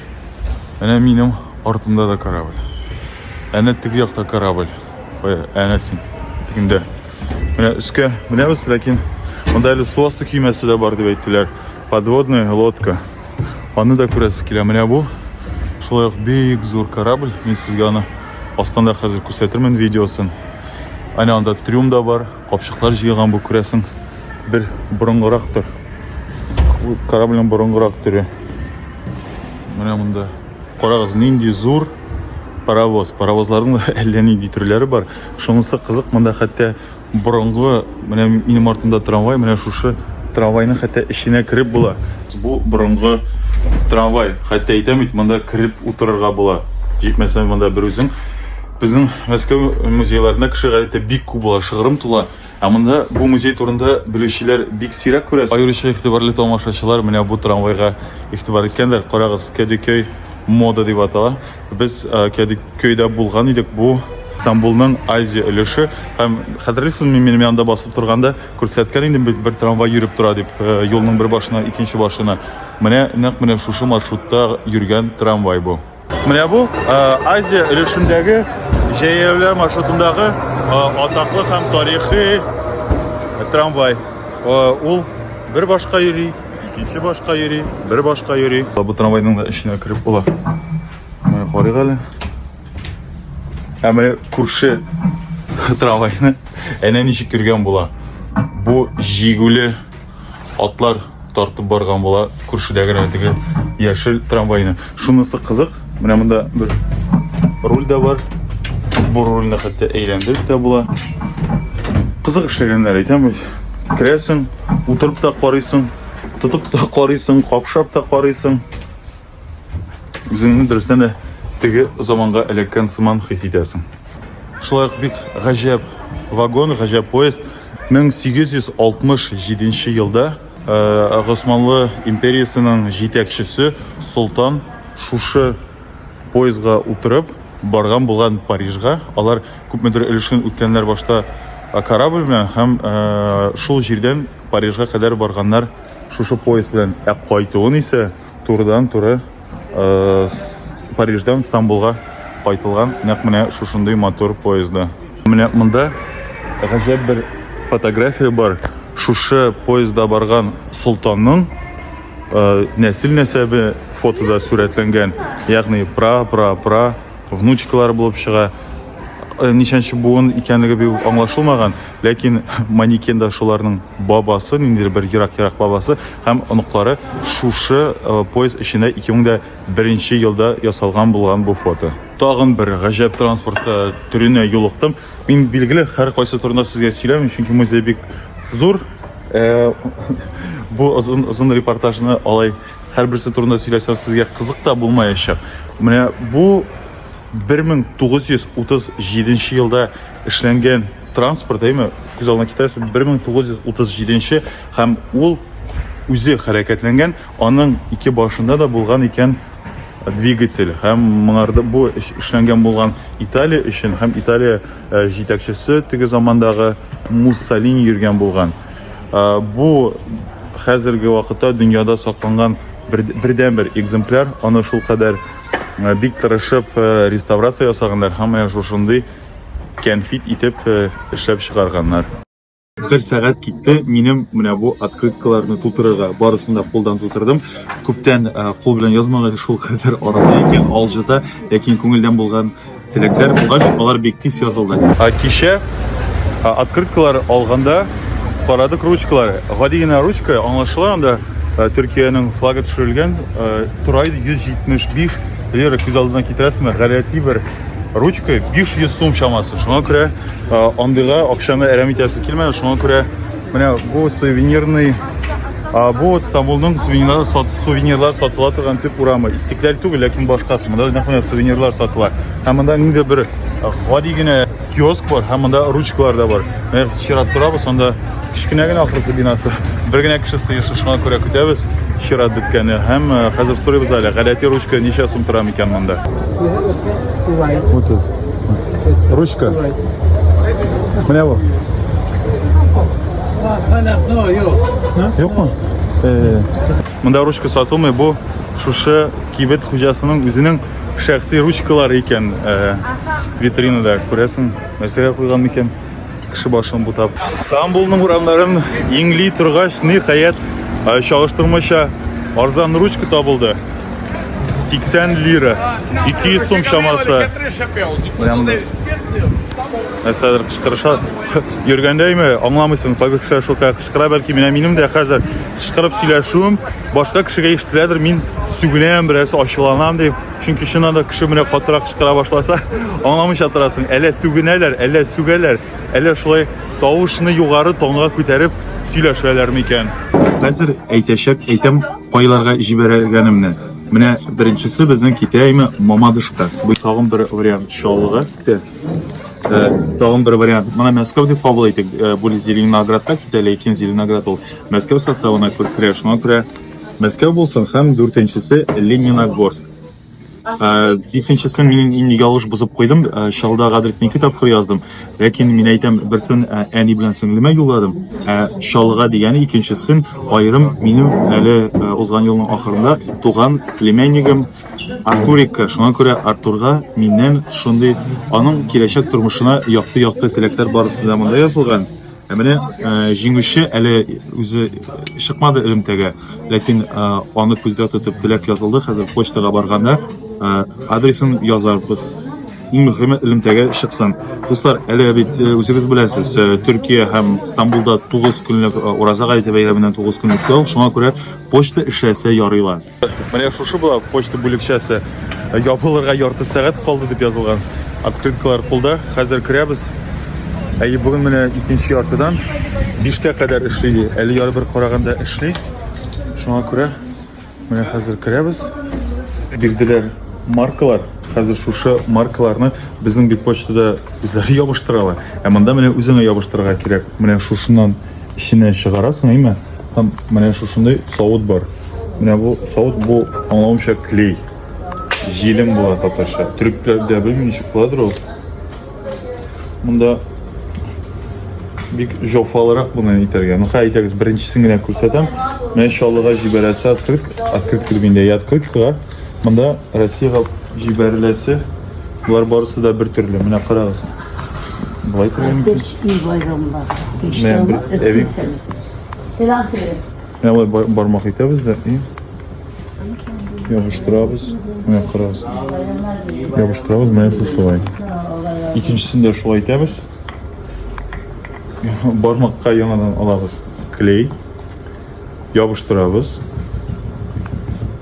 Әнә минем артымда да корабль. Әнә теге якта корабль. Кая? Әнә син. Тегендә. Менә өскә менәбез, ләкин монда әле су асты көймәсе дә бар дип әйттеләр. Подводная лодка. Аны да күрәсез килә. Менә бу шулай ук бик зур корабль. Мин сезгә аны астында хәзер күрсәтермен видеосын. Әнә анда трюм да бар. Капчыклар җыйган бу, күрәсең, бер борынгырак төр. Корабльнең борынгырак төре. Менә монда. Карагыз, нинди зур паровоз. Паровозларның әллә нинди төрләре бар. Шунысы кызык, монда хәтта борынгы, менә минем артымда трамвай, менә шушы трамвайның хәтта эченә кереп була. Бу борынгы трамвай, хәтта әйтәм бит, монда кереп утырырга була. Җитмәсә, монда бер үзең Безнең Мәскәү музейларында кеше гадәттә бик күп була, шыгрым тула. Ә монда бу музей турында белүчеләр бик сирәк күрәсең. Аеруча игътибарлы тамашачылар менә бу трамвайга игътибар иткәндер. Карагыз, Кәдекөй мода дип атала. Без э, Кәдекөйдә булган идек. Бу Стамбулның Азия өлеше һәм хәтерлисезме, мин минем янда басып торганда күрсәткән идем бит бер трамвай йөреп тора дип, э, юлның бер башына икенче башына. Менә нәкъ менә шушы маршрутта йөргән трамвай бу. Менә бу Азия өлешендәге җәяүләр маршрутындагы атаклы һәм тарихи трамвай. Ул бер башка йөри, икенче башка йөри, бер башка йөри. Бу трамвайның да эченә кереп була. Менә карыйк әле. Ә менә күрше трамвайны әнә ничек йөргән була. Бу җигүле Атлар тартып барган була, күршедә генә теге яшел трамвайны. Шунысы кызык, менә монда бер руль дә бар. Бу рульне хәтта әйләндереп тә була. Кызык эшләгәннәр, әйтәм бит. Керәсең, утырып та карыйсың, тотып та карыйсың, капшап та карыйсың. Үзеңне дөрестән дә теге заманга эләккән сыман хис итәсең. Шулай ук бик гаҗәп вагон, гаҗәп поезд. 1867 елда э, Госманлы империясенең җитәкчесе Солтан шушы поездга утырып барган булган Парижга. Алар күпмедер өлешен үткәннәр башта э, корабль белән һәм э, шул җирдән Парижга кадәр барганнар шушы поезд белән. Ә кайтуын исә Турыдан-туры Париждан Стамбулга кайтылган нәкъ менә шушындый матур поезда. Менә монда гаҗәп бер фотография бар. Шушы поезда барган солтанның нәсел-нәсәбе фотода сурәтләнгән. Ягъни пра-пра-пра внучкалар булып чыга. Ничәнче буын икәнлеге бик аңлашылмаган. Ләкин манекенда шуларның бабасы, ниндидер бер ерак-ерак бабасы һәм оныклары шушы э, поезд эчендә 2001 елда ясалган булган бу фото. Тагын бер гаҗәп транспорт э, төренә юлыктым. Мин билгеле һәр кайсы турында сезгә сөйләмим, чөнки музей бик зур. Э, бу озын озын репортажны алай һәрберсе турында сөйләсәм сезгә кызык та булмаячак. Менә бу 1937 елда эшләнгән транспорт әйме күз алдына китерәсез 1937 нче һәм ул үзе хәрәкәтләнгән аның ике башында да булган икән двигатель һәм моңарда бу эшләнгән булган италия өчен һәм италия э, җитәкчесе теге замандагы муссолини йөргән булган э, бу хәзерге вакытта дөньяда сакланган бердән бер экземпляр аны шул кадәр э, бик тырышып реставрация ясаганнар һәм менә шушындый кәнфит итеп эшләп чыгарганнар. Бер сәгать китте, минем менә бу открыткаларны тутырырга. Барысын да кулдан тутырдым. Күптән кул белән язмаган шул кадәр арыды икән, алҗыта, ләкин күңелдән булган теләкләр булгач, алар бик тиз язылды. Кичә открыткалар алганда карадык ручкалар. Гади генә ручка, аңлашыла, анда Төркиянең флагы төшерелгән. Турай 175 лира күз алдына китерәсеңме? Гадәти бер ручка 500 сум чамасы шуңа күрә андыйга акчаны әрәм итәсе килмәде шуңа күрә менә бу сувенирный бу стамбулның сувенирлар сувенирлар сатыла торган төп урамы истекләл түгел ләкин башкасы монда нәкъ менә сувенирлар сатыла һәм монда ниндидер бер гади генә киоск бар һәм монда ручкалар да бар чират торабыз анда Кечкенә генә ахрысы бинасы. Бер генә кеше сыешы, шуңа күрә көтәбез. Чират беткәне һәм э, хәзер сорыйбыз әле, гадәти ручка ничә сум тора микән монда? Ручка. Менә бу. Юкмы? Э. Монда ручка сатылмый, бу шушы кибет хуҗасының үзенең шәхси ручкалары икән. Э, витринада күрәсең, нәрсәгә куйган микән? Кеше башын бутап. Стамбулның урамнарын иңли торгач, ниһаять, чагыштырмача арзан ручка табылды. 80 лира, 200 сум чамасы. Менә нәрсәдер кычкырыша. Йөргәндәйме, аңламыйсың, кайбер кешеләр шулкая кычкыра, бәлки менә минем дә хәзер кычкырып сөйләшүем башка кешегә ишетеләдер, мин сүгенәм, берәрсе ачуланам дип. Чөнки чыннан да кеше менә катырак кычкыра башласа, аңламыйча торасың. Әллә сүгенәләр, әллә сүгәләр, әллә шулай тавышны югары тонга күтәреп сөйләшәләр микән? Хәзер әйтәчәк, әйтәм, кайларга җибәргәнемне. Менә беренчесе безнең китәйме Мамадышка. Бу тагын бер вариант чаллыгы. Э, тагын бер вариант. Менә Мәскәү дип кабул итик. Э, бу Зеленоградка китә, ләкин Зеленоград ул Мәскәү составына керә, шуңа күрә Мәскәү булсын һәм дүртенчесе Лениногорск. Бишенчесен мин инде ялгыш бозып куйдым, чалда адресны ике тапкыр яздым. Ләкин мин әйтәм, берсен әни белән сеңлемә юлладым, ә чалга дигәне икенчесен аерым минем әле узган елның ахырында туган племяннигым Артурикка. Шуңа күрә Артурга миннән шундый, аның киләчәк тормышына якты-якты теләкләр барысы да монда язылган. Ә менә җиңүче әле үзе чыкмады элемтәгә, ләкин аны күздә тотып теләк язылды. Хәзер почтага барганда адресын язарбыз. Иң мөһиме элемтәгә чыксын. Дуслар, әле бит үзегез беләсез, Төркия һәм Стамбулда 9 көнлек ураза гаете бәйрәменнән 9 көнлек ял, шуңа күрә почта эшләсә ярыйлар. Менә шушы була почта бүлекчәсе. Ябылырга ярты сәгать калды дип язылган. Открыткалар кулда. Хәзер керәбез. Әйе, бүген менә икенче яртыдан бишкә кадәр эшли. Әле яры бер караганда эшли. Шуңа күрә менә хәзер керәбез. Бирделәр маркалар. Хәзер шушы маркаларны безнең бит почтада үзләре ябыштыралар. Ә монда менә үзеңә ябыштырырга кирәк. Менә шушыннан Эченә чыгарасың, әйме? Һәм менә шушындый савыт бар. Менә бу савыт бу аңлавымча клей. Җилем була татарча. Төрекләрдә белмим ничек буладыр ул. Монда бик жофалырак буны әйтергә. Ну хәй әйтегез, беренчесен генә күрсәтәм. Менә чаллыга җибәрәсе открытка, открытка дигәндә, открыткага Монда Россиягә җибәреләсе болар барысы да бер төрле. Менә карагыз. Болай күрә мөмкин. Менә бер бармак итәбез дә и ябыштырабыз. Менә карагыз. Ябыштырабыз, менә шушылай. Икенчесен дә шулай итәбез. Бармакка яңадан алабыз клей. Ябыштырабыз.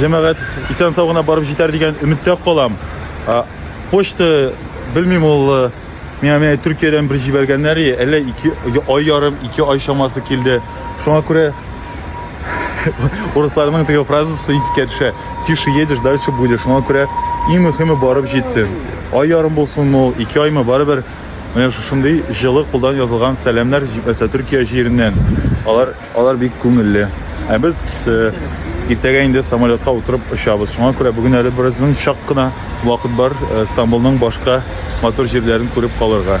Җәмәгать исән сау гына барып җитәр дигән өметтә калам. Почта белмим ул э, миңа менә Төркиядән бер җибәргәннәр, әллә ике ай ярым, ике ай чамасы килде. Шуңа күрә урысларның теге фразасы искә төшә. Тише едешь, дальше будешь. Шуңа күрә иң мөһиме барып җитсен. Ай ярым булсын ул, ике аймы барыбер. Менә шушындый җылы кулдан язылган сәламнәр җитмәсә Төркия җиреннән. Алар Алар бик күңелле. Ә без иртәгә инде самолетка утырып очабыз. Шуңа күрә бүген әле бераздан чак кына вакыт бар Стамбулның башка матур җирләрен күреп калырга.